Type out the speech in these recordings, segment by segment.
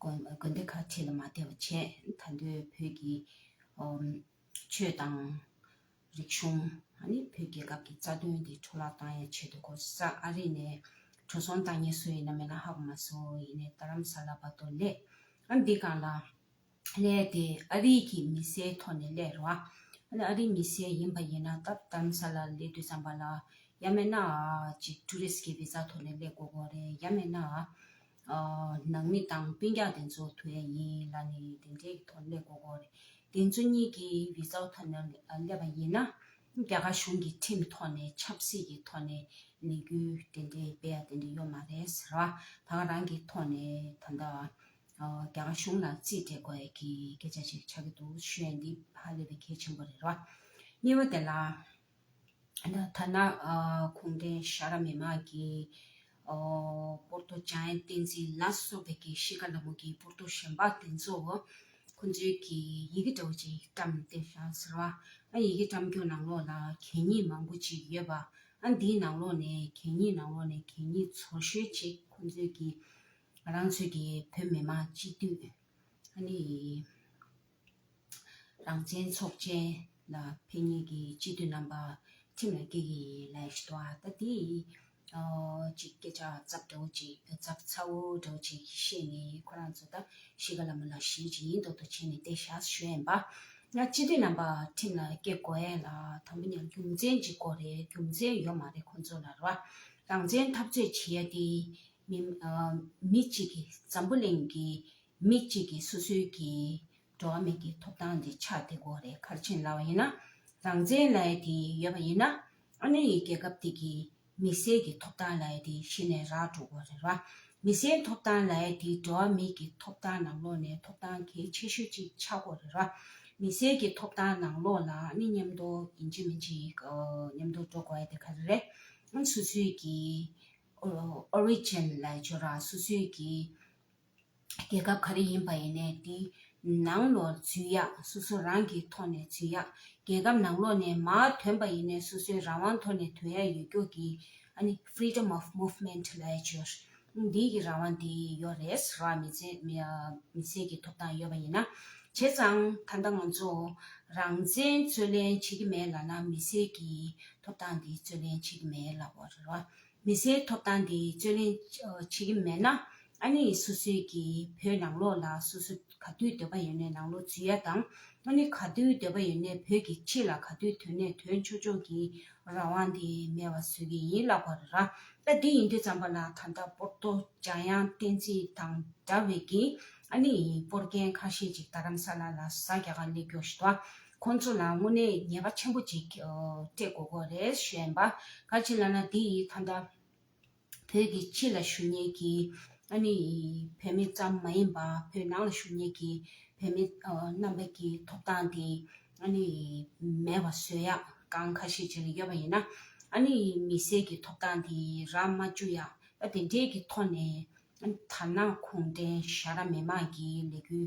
དགོན་སྡེ་ཁག་ཁྲི་ལ་མ་ལྟེ་བ་བྱས། ད་ལྟའི་བོད་ཀྱི་ཆོས་དང། རིག་གཞུང། བོད་རྒྱལ་ཁབ་ཀྱི་རྩ་དོན་དེ་འཕྲོ་བརླག་བཏང་ཡང་ཆེད་དུ་གོ་ས་ཨ་རི་ནས་འཕྲོ་སོང་བཏང་ངེས་སུ་ཡིན་ན་མེད་ན་ཧ་གོ་མ་སོ་ཡིན་ནས་རྡ་རམ་ས་ལ་བ་ཏོ་ལས་ཨ་འདི་གང་ལ་ལས་དེ་ཨ་རི་གྱི་མི་སེའི་ཐོག་ནས་ལས་རོ། ཨ་རི་མི་སེ་ཡིན་པ་ཡིན་ན་ད་རྡ་རམ་ས་ལ་ལས་དུས་ཙམ་པ་ལ་ཡ་མེད་ན་ཨ་ཅིག་ཏུ་རིས་ཀྱི་བི་ཛ་ཐོག་ནས་ལས་གོ་གོ་རེད་ཡ་མེད་ན་ཨ། ནང་མི་དང་དཔོན་རྒྱག་དེ་ཚོ་དུ་བས་ཡིན་ལ་ནི་དེ་འདྲའི་གི་དོན་ལས་གོ་གོ་རེད། དེ་ཚོ་གཉིས་ཀྱི་བི་ཟའོ་ཐོ་ནས་སླེབས་པ་ཡིན་ན། རྒྱ་གར་གཞུང་གི་ཁྲིམས་ཐོག་ནས་ཆབ་སྲིད་ཀྱི་ཐོག་ནས་ལས་འགུལ་དེ་འདྲའི་སྤེལ་ཡ་དེ་འདྲའི་ཡོད་མ་རེད་ཟེར་བ་དང་རང་གི་ཐོག་ནས་ད་ལྟ་རྒྱ་གར་གཞུང་ལ་རྩིས་སྤྲད་དགོས་ཡ་གི་སྐད་ཆ་ཞིག་ཆགས་ཀྱི་འདུག་ཤོད་ཡ་འདི་ཧ་ལས་པའི་གལ་ཆེན་པོ་རེད་ར་བ། གཉིས་པ་དེ་ལ། ཐ་ན་གུང་ཁྲན་ཤ་ར་མི་དམངས་ཀྱི་པོར་ཏོ་བྱང་ཨན་བསྟན་འཛིན་ལ་སོགས་པའི་དགེ་བཤེས་ཀ་ལ་མོ་གི་པོར་ཏོ་གཞོན་པ་དེ་ཚོ་ཁོ་ཚོའི་གི་ཡི་གེ་འདྲ་བོ་ཅིག་བཀྲམ་སྟེ་ཤང་ཟེར་བ་ཨ་ཡི་གེ་བཀྲམ་རྒྱུ་ནང་ལོགས་ལ་གད་སྙིགས་མང་པོ་ཅིག་ཡོད་པ་ཨ་འདིའི་ནང་ལོགས་ནས་གད་སྙིགས་ནང་ལོགས་ནས་གད་སྙིགས་ཚོར་ཤོས་ཅིག་ཁོ་ཚོའི་གི་རང་ཚོའི་གི་བོད་མི་དམངས་སྤྱི་འཐུས་ཨ་ནི། རང་བཙན་ཚོགས་ཆེན་ལ་ཕན་ཉེས་ཀྱི་སྤྱི་འཐུས་རྣམ་པ་ཁྲིམས་ལ་འགལ་གྱི་ལས་བྱེད་པ་ད་དེ་གཅིག་སྐད་ཆ་ཚབ་དྲོ་བྱེད་ཚབ་ཚ་བོ་དྲོ་བྱེད་ཀྱི་བཤད་ནས་ཁོ་རང་ཚོ་ད་ཤི་ག་ལ་མི་ལ་ཤི་ཇི་ཡིན་དོག་དོག་བྱེད་ནས་བསྡད་ཤག་གཞོན་པ་ང་སྤྱི་འཐུས་རྣམ་པ་ཁྲིམས་ལ་སྐྱེ་དགོས་ཡས་ལ་དང་པོ་ནས་རྒྱུ་མཚན་གཅིག་དགོས་རེད་རྒྱུ་མཚན་ཡོད་མ་རེད་ཁོ་ཚོ་ལ་རོ་རང་བཙན་འཐབ་རྩོད་བྱེད་ཡས་དེ་མི་གཅིག་གི་འཛམ་བུ་གླིང་གི་མི་གཅིག་གིས་སོ་སོའི་གི། འགྲོ་བ་མིག་གི་ཐོབ་ཐང་དེ་ཆགས་དེ་གོ་རེ་ཁར་ཕྱིན་སླ་བ་ཡིན་ན། རང་བཙན་ལ་ཡི་དེ་ཡོད་པ་ཡིན་ན། ཨ་མི་རི་ཡི་རྒྱལ་ཁབ་དེ་གི། མི་སེར་གི་ཐོབ་ཐང་ལ་ཡི་དེ་ཤི་ནས་རག་འགྲོ་གོ་རེ་ར། མི་སེར་ཐོབ་ཐང་ལ་ཡི་དེ་འགྲོ་བ་མིག་གི་ཐོབ་ཐང་ནང་ལོག་ནས་ཐོབ་ཐང་གལ་ཆེ་ཤོས་གཅིག་ཆགས་གོ་རེ་ར། མི་སེར་གི་ཐོབ་ཐང་ནང་ལོག་ལ་ཨ་མི་ཉམས་དོ་ཡིན་གཅིག་མིན་གཅིག་གི་ཉམས་དོ་འགྲོ་གོ་ཡི་དེ་ཁ་རེ་རེ། ཨ་མི་སོ་སོའི་གི། Origin ལ་ཡི་ཆོ་ར་སོ་སོའི་གི། རྒྱལ་ཁབ་ག་རེ་ཡིན་པ་ཡིན་ནས་དེའི་ནང་ལོགས་རྫུན་ཡག་སོ་སོ་རང་གིས་ཐོག་ནས་རྫུན་ཡག་རྒྱལ་ཁབ་ནང་ལོགས་ནས་མ་དོན་པ་ཡིན་ནས་སོ་སོའི་རང་དབང་ཐོག་ནས་དོན་ཡག་ཡོད་སྐྱོ་གི་ཨ་ནི Freedom of Movement ལའི་ཆོས་འདི་གི་རང་དབང་དེ་ཡོད་རེད་ར་མི་ཚེ་མི་ཚེ་གི་ཐོབ་ཐང་ཡོད་པ་ཡིན་ན་བྱས་ཙང་ད་ལྟ་ང་ཚོ་རང་བཙན་རྩོད་ལེན་བྱེད་ཀྱི་མེད་ལ་ན་མི་ཚེ་གི་ཐོབ་ཐང་དེ་རྩོད་ལེན་བྱེད་ཀྱི་མེད་ལ་བ་རེད་ར། མི་སེར་ཐོབ་ཐང་འདི་རྩོད་ལེན་བྱེད་ཀྱི་མེད་ན་ཨ་ནེ་ཡི་སོ་སོའི་གི་བོད་ནང་ལོག་ལ་སོ་སོ་ག་དུས་འདོད་པ་ཡོད་ནས་ནང་ལོག་འཛུལ་ཡ་དང་ཨ་ནེ་ག་དུས་འདོད་པ་ཡོད་ནས་བོད་ཀྱི་ཕྱི་ལ་ག་དུས་དོན་ནས་དོན་འཆོལ་འཆོལ་གྱི་རང་དབང་འདི་མེད་བ་བཟོས་གི་ཡིན་ལགས་པ་རེད་ར་ད་འདི་ཡིན་དུས་ཙམ་པ་ལ་ད་ལྟ་པོར་ཏོ་འཇམ་དབྱངས་བསྟན་འཛིན་དང་འདྲ་བའི་གི་ཨ་ནེ་ཡིན་པོར་རྒན་ཁ་ཤས་ཅིག་རྡ་རམ་ས་ལ་ལ་བཟའ་རྒྱ་གར་གླེགས་རྒྱོགས་ཞི་དོ་ཁོ་ཚོ་ལ་དངོས་གནས་ཉེས་པ་ཆེན་པོ་ཅིག་སྤྲད་དགོས་དགོས་རེད་བཤད། བཀའ་སྤྱི་ལ་ན་འདི་ཡིས་ཐ་ན་བོད་ཀྱི་ཕྱི་ལ་ཞུ་ཉེན་གྱི་ཨ་ནི་བོད་མི་ཙམ་མ་ཡིན་པ་བོད་ནང་ལ་ཞུ་ཉེན་གྱི་བོད་མི་རྣམ་པ་ཀྱི་ཐོབ་ཐང་དེ་ཨ་ནི་མེད་པ་བཟོས་ཡག་གང་ཁ་ཤས་ཅིག་ལ་ཡོད་པ་ཡིན་ན་ཨ་ནི་མི་སེར་གྱི་ཐོབ་ཐང་དེ་རག་མ་བཅུག་ཡག་ད་དེ་འདྲས་ཀྱི་ཐོག་ནས་ཐ་ན་གུང་ཁྲན་ཤ་ར་མེ་མང་གི་ལས་འགུལ་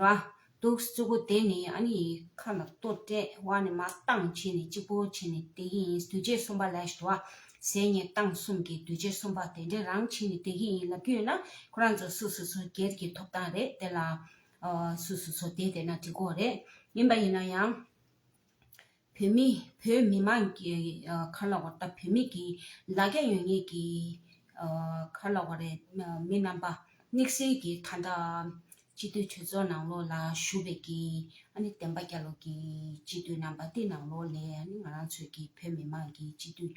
ར། དུག་བཅུ་པོ་དེ་ནི་ཨ་ནི་ཡི་ཁ་ན་སྟོད་སྤྲད་བ་ནི་མ་བཏང་བྱས་ནས་གཅིག་པོ་བྱས་ནས་དེ་གི་ཡིན་འདུས་བྱས་གསུམ་པ་ལས་བྱ་བ་ཟས་ནི་བཏང་གསུམ་གྱི་འདུས་བྱས་གསུམ་པ་དེ་འདྲས་རང་བྱས་ནས་དེ་གི་ཡིན་ལབ་རྒྱུ་ཡོད་ན་ཁོ་རང་ཚོ་སུ་སུ་ཚོ་སྒེར་གྱི་ཐོབ་ཐང་རེད་དེ་ལ་སུ་སུ་ཚོ་དེ་དེ་ན་འདྲི་གོ་རེད་ཡིན་པ་ཡིན་ན་ཡང། བོད་མི་བོད་མི་མང་གི་ཁ་ལ་བ་དང་བོད་མི་གི་ལ་རྒྱ་ཡོད་ངེས་ཀྱི་ཁ་ལ་བ་རེད་མི་རྣམ་པ་དམིགས་བསལ་གྱི་ད་ལྟ་སྤྱི་འཐུས་གྲོས་ཚོགས་ནང་ལོགས་ལ་བཞུགས་པའི་གི་ཨ་ནི་བསྟན་པ་རྒྱ་ལོ་གི་སྤྱི་འཐུས་རྣམ་པ་དེ་ནང་ལོགས་ལས་ཨ་ནི་ང་རང་ཚོད་ཀྱི་བོད་མི་མང་གི་སྤྱི་འཐུས།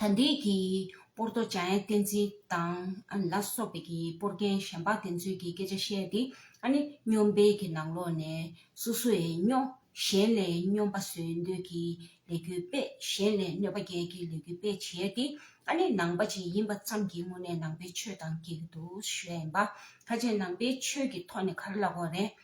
ད་འདིའི་གྱི་པོར་ཏོ་ཅཱ་ཡན་བསྟན་འཛིན་དང་ལ་སོགས་པའི་གྱི་པོར་རྒན་གཞན་པ་དེ་ཚོའི་གྱི་སྐད་ཆ་བཤད་དེ་ཨ་ནི་སྨྱོན་དཔེ་གྱི་ནང་ལོག་ནས་སུ་སུ་ཡའི་སྨྱོ་གཞན་ལས་སྨྱོན་པ་བཟོས་འདོད་གྱི་ལས་རྒྱུ་དཔེ་གཞན་ལས་གནོད་པ་རྒྱལ་གྱི་ལས་རྒྱུ་དཔེ་བྱས་དེ་ཨ་ནི་ནང་པ་ཅིག་ཡིན་པ་ཙམ་གྱི་སྔུན་ནས་ནང་པའི་ཆོས་དང་གྱི་འདུག་ཤོད་ཡིན་པ་ཁ་ཅིག་ནང་པའི་ཆོས་ཀྱི་ཐོག་ནས་གར་ལ་གོ་རེད།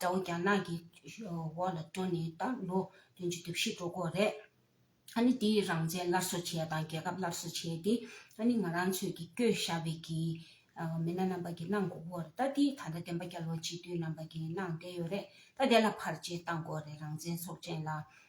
དགྲ་བོ་རྒྱ་ནག་གི་འོག་ལ་བཀྲོལ་ནས་ད་ལོ་བདུན་ཅུ་དུས་བཞི་འགྲོ་སྐོར་རེད། ཨ་ནི་དེའི་རང་བཙན་སླར་གསོ་བྱས་དང་རྒྱལ་ཁབ་སླར་གསོ་བྱས་ཏེ་ཨ་ནི་ང་རང་ཚོས་ཀྱི་སྐྱོད་ཞབས་པའི་ཀྱི་མི་སྣ་རྣམ་པ་ཀྱི་གནང་སྒོ་བོར་ད་དེ་ད་ལྟ་བདེན་པ་རྒྱལ་བ་སྤྱི་འཐུས་རྣམ་པ་ཀྱི་གནང་བསྡད་ཡོད་རེད་ད་དེ་ལ་བར་ཆད་བཏང་སྐོར་རེད་རང་བཙན་ཚོགས་ཆེན་ལ་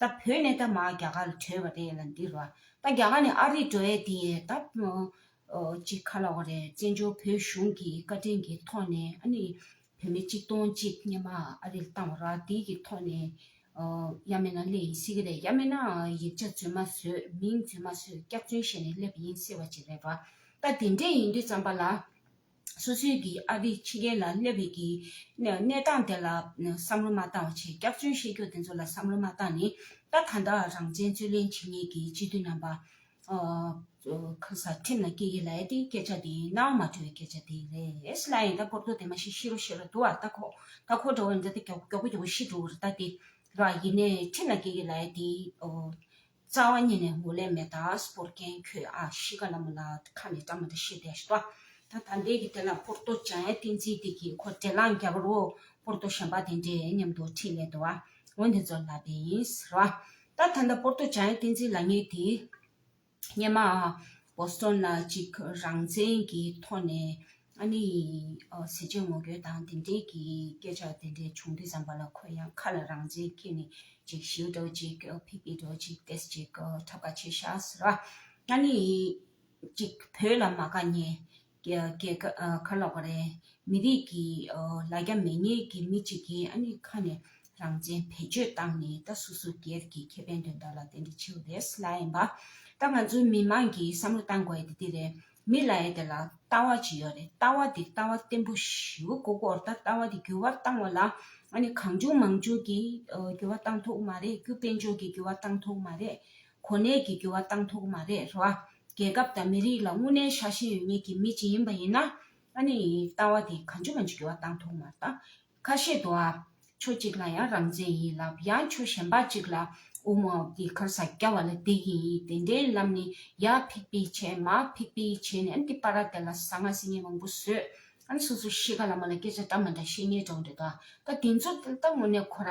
ད་བོད་ནས་ད་མ་རྒྱ་གར་ལ་བྲོས་པ་རེད་ལ་འདི་རོ། ད་རྒྱ་གར་ནས་ཨ་རིར་འགྲོ་ཡས་དེ་ཡས་ད་ཅིག་ཁ་ལ་བ་རེད་བཙན་བྱོལ་བོད་གཞུང་གི་བཀའ་དྲིན་གྱི་ཐོག་ནས་ཨ་ནི་བོད་མི་གཅིག་སྟོང་གཅིག་རྙེད་མ་ཨ་རིར་བཏང་བ་ར་དེ་གི་ཐོག་ནས་ཡ་མེད་ན་སླེ་ཡིན་སྲིད་གི་རེད་ཡ་མེད་ན་ཡིག་ཆ་རྫུན་མ་བཟོས་མིང་རྫུན་མ་བཟོས་སྐྱག་རྫུན་བཤད་ནས་སླེ་བ་ཡིན་སྲིད་བ་ཅིག་རེད་བ། ད་དེ་འདྲས་ཡིན་དུས་ཙམ་པ་ལ། སོ་སོའི་གི་ཨ་རིའི་ཕྱི་རྒྱལ་ལ་སླེབས་པའི་གི་གནས་སྟངས་དེ་ལ་བསམ་བློ་མ་བཏང་བ་བྱས་སྐྱག་རྫུན་བཤད་རྒྱུ་དེ་ཚོ་ལ་བསམ་བློ་མ་བཏང་ནས་ད་གང་དག་རང་བཙན་རྩོད་ལེན་བྱེད་ངེས་གི་སྤྱི་འཐུས་རྣམ་པ་གང་སར་ཁྲིམས་ལ་སྐྱེ་གི་ལ་ཡ་དེ་སྐད་ཆ་དེ་ནའང་མ་འཕྲོད་པའི་སྐད་ཆ་དེ་རེད་ལ་ཡིན་ད་སྐོར་ཐོག་དེ་མ་ཤེས་ཤེས་རོགས་ཤེས་རོགས་འདུག་ཨ་ད་ཁོ་ད་ཁོ་འདྲ་བ་འདྲ་ད་མགྱོགས་པོ་མགྱོགས་པོ་ཤི་འགྲོ་བར་ལྟ་སྟེ་ར་ཡིན་ནས་ཁྲིམས་ལ་སྐྱེ་གི་ལ་ཡ་དེ་རྩ་བ་ཉིད་ནས་མགོ་ལས་མེ་དག་སྤོར་མཁན་ཁྱོད་ཨ་ཤི་ཀ་ལ་མོ་ལ་ཁ་ནས་བཀྲ་མ་ད་ཤི་དེ་ཤི་ཏོ། ད་ད་འདས་ཀྱི་དེ་ལ་པོར་ཏོ་བྱ་ཡ་ཏིན་ཙིའི་དེ་གི་ཁོ་དྲེ་ལང་རྒྱ་བ་རོ་པོར་ཏོ་ཤན་པ་དེ་འདྲེ་མཉམ་དུ་ཁྲིད་ལེ་དོ་ཨ་འོན་དེ་ཚོ་ལ་དེ་ཡིན་རོ་ཨ། ད་ད་འདས་པོར་ཏོ་བྱ་ཡ་ཏིན་ཙི་ལ་ངས་དེ་སྙེ་མ་ཨ། Boston ལ་ཅིག་རང་བཙན་གྱི་ཐོག་ནས་ཨ་ནེ་ཡིས་ཟས་བཅད་ངོ་རྒོལ་དང་དེ་འབྲེལ་གྱི་སྐད་ཆ་དེ་འདྲའི་བྱུང་དུས་བསམ་པ་ལ་ཁོས་ཡང་ཁ་ལ་རང་བཙན་ཁྱེར་ནས་ཅིག་ཞིའུ་འགྲོ་ཅིག་ཕིག་ཕིག་འགྲོ་ཅིག་ཏེས་ཅིག་ཁྲབ་ཁ་བྱེད་ཤག་ཟེར་བ། ཨ་ནེ་ཡིས་ཅིག་བོད་ལ་མ་དགའ་ཉེས་རྒྱལ་ཁ་ལོག་པ་རེད་མི་རིགས་ཀྱི་ལ་རྒྱ་མེད་ཉེས་ཀྱི་མི་ཅིག་གིས་ཨ་ནེ་ཁ་ནས་རང་བཙན་བེད་སྤྱོད་བཏང་ནས་ད་སུ་སུ་སྒེར་གྱི་ཁེ་ཕན་དོན་དག་ལ་དེ་འདྲ་བྱེད་འོས་ལ་ཡིན་པ། ད་ང་ཚོའི་མི་དམངས་ཀྱིས་བསམ་བློ་བཏང་དགོས་དེ་འདི་རེད། མི་ལ་ཡེ་དེ་ལ་ལྟ་བ་ཅི་ཡོད་རེད་ལྟ་བ་འདི་ལྟ་བ་བརྟན་པོ་ཞིའུ་དགུ་སྐོར་ད་ལྟ་བ་འདི་འགྱུར་བ་བཏང་བ་ལ་ཨ་ནི་གང་བྱུང་མང་བྱུང་གིས་འགྱུར་བ་བཏང་ཐུག་མ་རེད་རྒྱུ་དཔལ་འབྱོར་གྱིས་འགྱུར་བ་བཏང་ཐུག་མ་རེད་གོ་གནས་ཀྱིས་འགྱུར་བ་བཏང་ཐུག་མ་རེད་རེད་བ། རྒྱལ་ཁབ་དང་མི་རིགས་ལ་དངུལ་གནས་ཤ་ཞེན་ཡོད་ངེས་ཀྱི་མི་ཅིག་ཡིན་པ་ཡིན་ན་ཨ་ནི་ལྟ་བ་འདི་གང་བྱུང་མང་བྱུང་འགྱུར་བ་བཏང་ཐུག་མ་རེད་ད་ཁ་ཤས་དུ་ཨ། ཕྱོགས་གཅིག་ལ་ཡང་རང་བཙན་ཡིན་ལ་ཡང་ཕྱོགས་གཞན་པ་གཅིག་ལ་ཨུ་མོ་ཨོ་ཀི་ཁར་ས་སྐྱ་བ་ལ་དེ་ཡིན་དེ་འདྲའི་ལམ་ནི་ཡ་ཕིག་པིག་བྱས་མ་ཕིག་པིག་བྱས་ནས་ཨན་ཏི་པ་ར་དེ་ལ་ཟ་ང་ཟི་ངེ་མང་པོ་ཟོས་ཨན་སོ་སོ་ཤེས་ག་ལ་མ་ལ་སྐད་ཆ་འདྲ་མ་འདྲ་བཤད་ཉེས་བྲོ་འདྲ་འདུག་ཨ་ད་དེ་ཚོ་ད་ངོ་ནས་ཁོ་ར།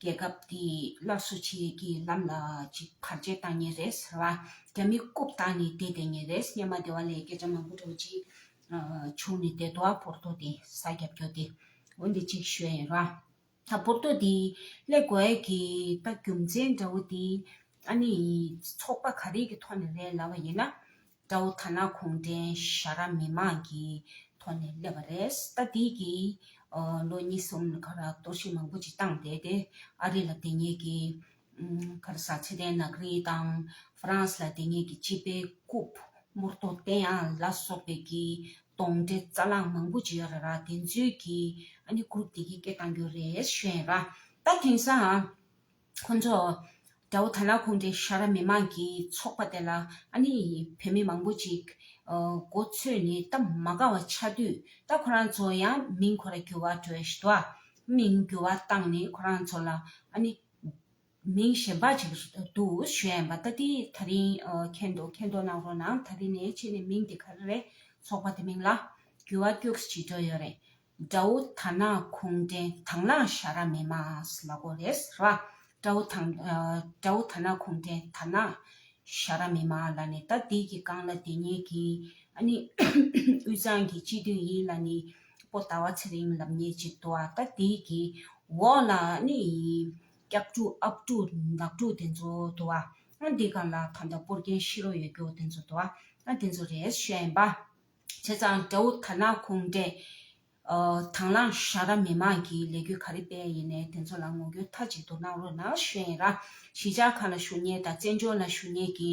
རྒྱལ་ཁབ་དེས་སླར་གསོ་བྱེད་ཀྱི་ལམ་ལ་ཅིག་བར་ཆད་བཏང་ངེས་རེད་ཟེར་བ། རྒྱ་མི་རྐུབ་བཏགས་ནས་བསྡད་བསྡད་ངེས་རེད་སྙམ་མ་བདེ་བ་ལས་སྐད་ཆ་མང་པོ་རེ་གཅིག་བྱུང་ནས་བསྡད་འདུག་ཨ་པོར་ཏོ་དེ་ས་རྒྱབ་རྒྱོ་སྟེ། འོན་ཏེ་ཅིག་ཤོད་ཡིན་རོགས། ཨ་པོར་ཏོ་དེས་ཀླད་གོ་ཨེ་གི་ད་རྒྱུ་མཚན་འདྲ་བོ་དེ་ཨ་ནི་ཚོགས་པ་ག་རེ་གི་ཐོག་ནས་རེད་ལབ་བ་ཡིན་ན། དགྲ་བོ་ཐ་ན་གུང་ཁྲན་ཤ་ར་མི་མང་གི་ཐོག་ནས་སླེབས་པ་རེད་ད་དེའི་གི་ལོ་གཉིས་གསུམ་ལ་གར་གཏོར་བཤིག་མང་པོ་ཅིག་བཏང་བསྡད་དེ་ཨ་རི་ལ་དེ་གཉིས་ཀྱི་གར་ས་ཚེ་ཏན་ནག་རིལ་དང་ཧྥ་རན་སི་ལ་དེ་གཉིས་ཀྱི་སྤྱི་དཔེ་རྐུབ་མུར་ཏོ་ཏན་ཨ་ལ་སོགས་པའི་གི་དོང་དྲེ་རྩ་ལང་མང་པོ་ཅིག་ར་ར་དེ་ཚོའི་གི་ཨ་ནི་ཀུ་རུབ་དེ་གི་སྐད་བཏང་རྒྱུ་རེད་བཤད་ཡིན་ར་ད་དེང་སང་ཁོང་ཚོ། དགྲ་བོ་དར་ནག་ཁོང་གིས་ཤ་ར་མི་མང་གི་ཚོགས་པ་དེ་ལ་ཨ་ནི་བོད་མི་མང་པོ་ཅིག་མགོ་ཚོས་ནས་སྟབས་མ་དགའ་བ་ཆགས་དུས་ད་ཁོ་རང་ཚོ་ཡང་མིང་ཁོ་ར་གྱུར་བ་བྲོས་ཤི་ཏོ། མིང་འགྱུར་བ་བཏང་ནས་ཁོ་རང་ཚོ་ལ་ཨ་ནི་མིང་གཞན་པ་ཅིག་འདུག་ཞུས་ཡན་པ་ད་དེ་ད་རིང་མཁྱེན་འདུག་མཁྱེན་འདུག་གནང་རོགས་གནང་ད་རིང་ནས་ཕྱི་ནས་མིང་དེ་ག་རེ་རེད་ཚོགས་པ་དེ་མིང་ལ་འགྱུར་བ་སྐྱུགས་ཤི་བྱེད་འགྲོ་ཡོད་རེད། དགྲ་བོ་ད་ནག་ཁུང་སྒྲེང་དང་ལང་ཤ་ར་མེ་མ་ཨས་ལ་གོ་རེས་ར། དགྲ་བོ་ད་དགྲ་བོ་ད་ནག་ཁུང་སྒྲེང་ད་ནག་ཤ་ར་མེ་མ་ཨ་ལ་ནི་ད་དིག་གི་རྐང་ལ་དེ་ཉིད་ཀྱི་ཨ་ནི་དབུས་གཙང་གི་སྤྱི་མཐུས་ཡིན་ལ་ནི་པོ་ད་བ་ཚེ་རིང་ལབ་ཉེས་ཅིག་དུ་ཨ་ད་དིག་གི་འོག་ལ་ཨ་ནི་སྐྱག་ཕྲུག་ཨབ་ཕྲུག་འདག་ཕྲུག་དེ་ཚོ་དུ་ཨ་ཨ་དིག་ག་ལ་ད་ད་པོར་རྒྱན་ཤི་རོ་ཡོད་རྒྱུ་དེ་ཚོ་དུ་ཨ་ཨ་དེ་ཚོ་རེས་ཤ་ཡིན་པ། བྱས་ཙང་དགྲ་བོ་དར་ནག་ཁུངས་འདྲེ། དྭང་བླངས་བཞག་ར་མི་མང་གི་ལས་རྒྱུ་ག་རེ་སྤེལ་ཡིན་ནས་དེ་ཚོ་ལ་ངོ་རྒྱུ་མཐའ་གཅིག་ཏུ་གནང་རོགས་གནང་བཞིན་ར་གཞིས་ཆགས་ཁག་ལ་ཞུ་སྙན་དང་བཙན་བྱོལ་ན་ཞུ་སྙན་གྱི་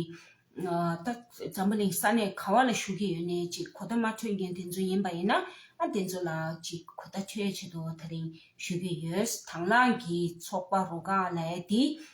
ད་འཛམ་བུ་གླིང་ས་གནས་ག་བ་ལ་ཞུ་གི་ཡོད་ནས་ཅིག་གོ་བརྡ་མ་འཕྲོད་མཁན་དེ་ཚོ་ཡིན་པ་ཡིན་ན་དེ་ཚོ་ལ་ཅིག་གོ་བརྡ་འཕྲོད་ཆེད་དུ་ད་རིང་ཞུ་གི་ཡོད་དྭང་བླངས་ཀྱི་ཚོགས་པ་རོ་ག་ལའི་དེ་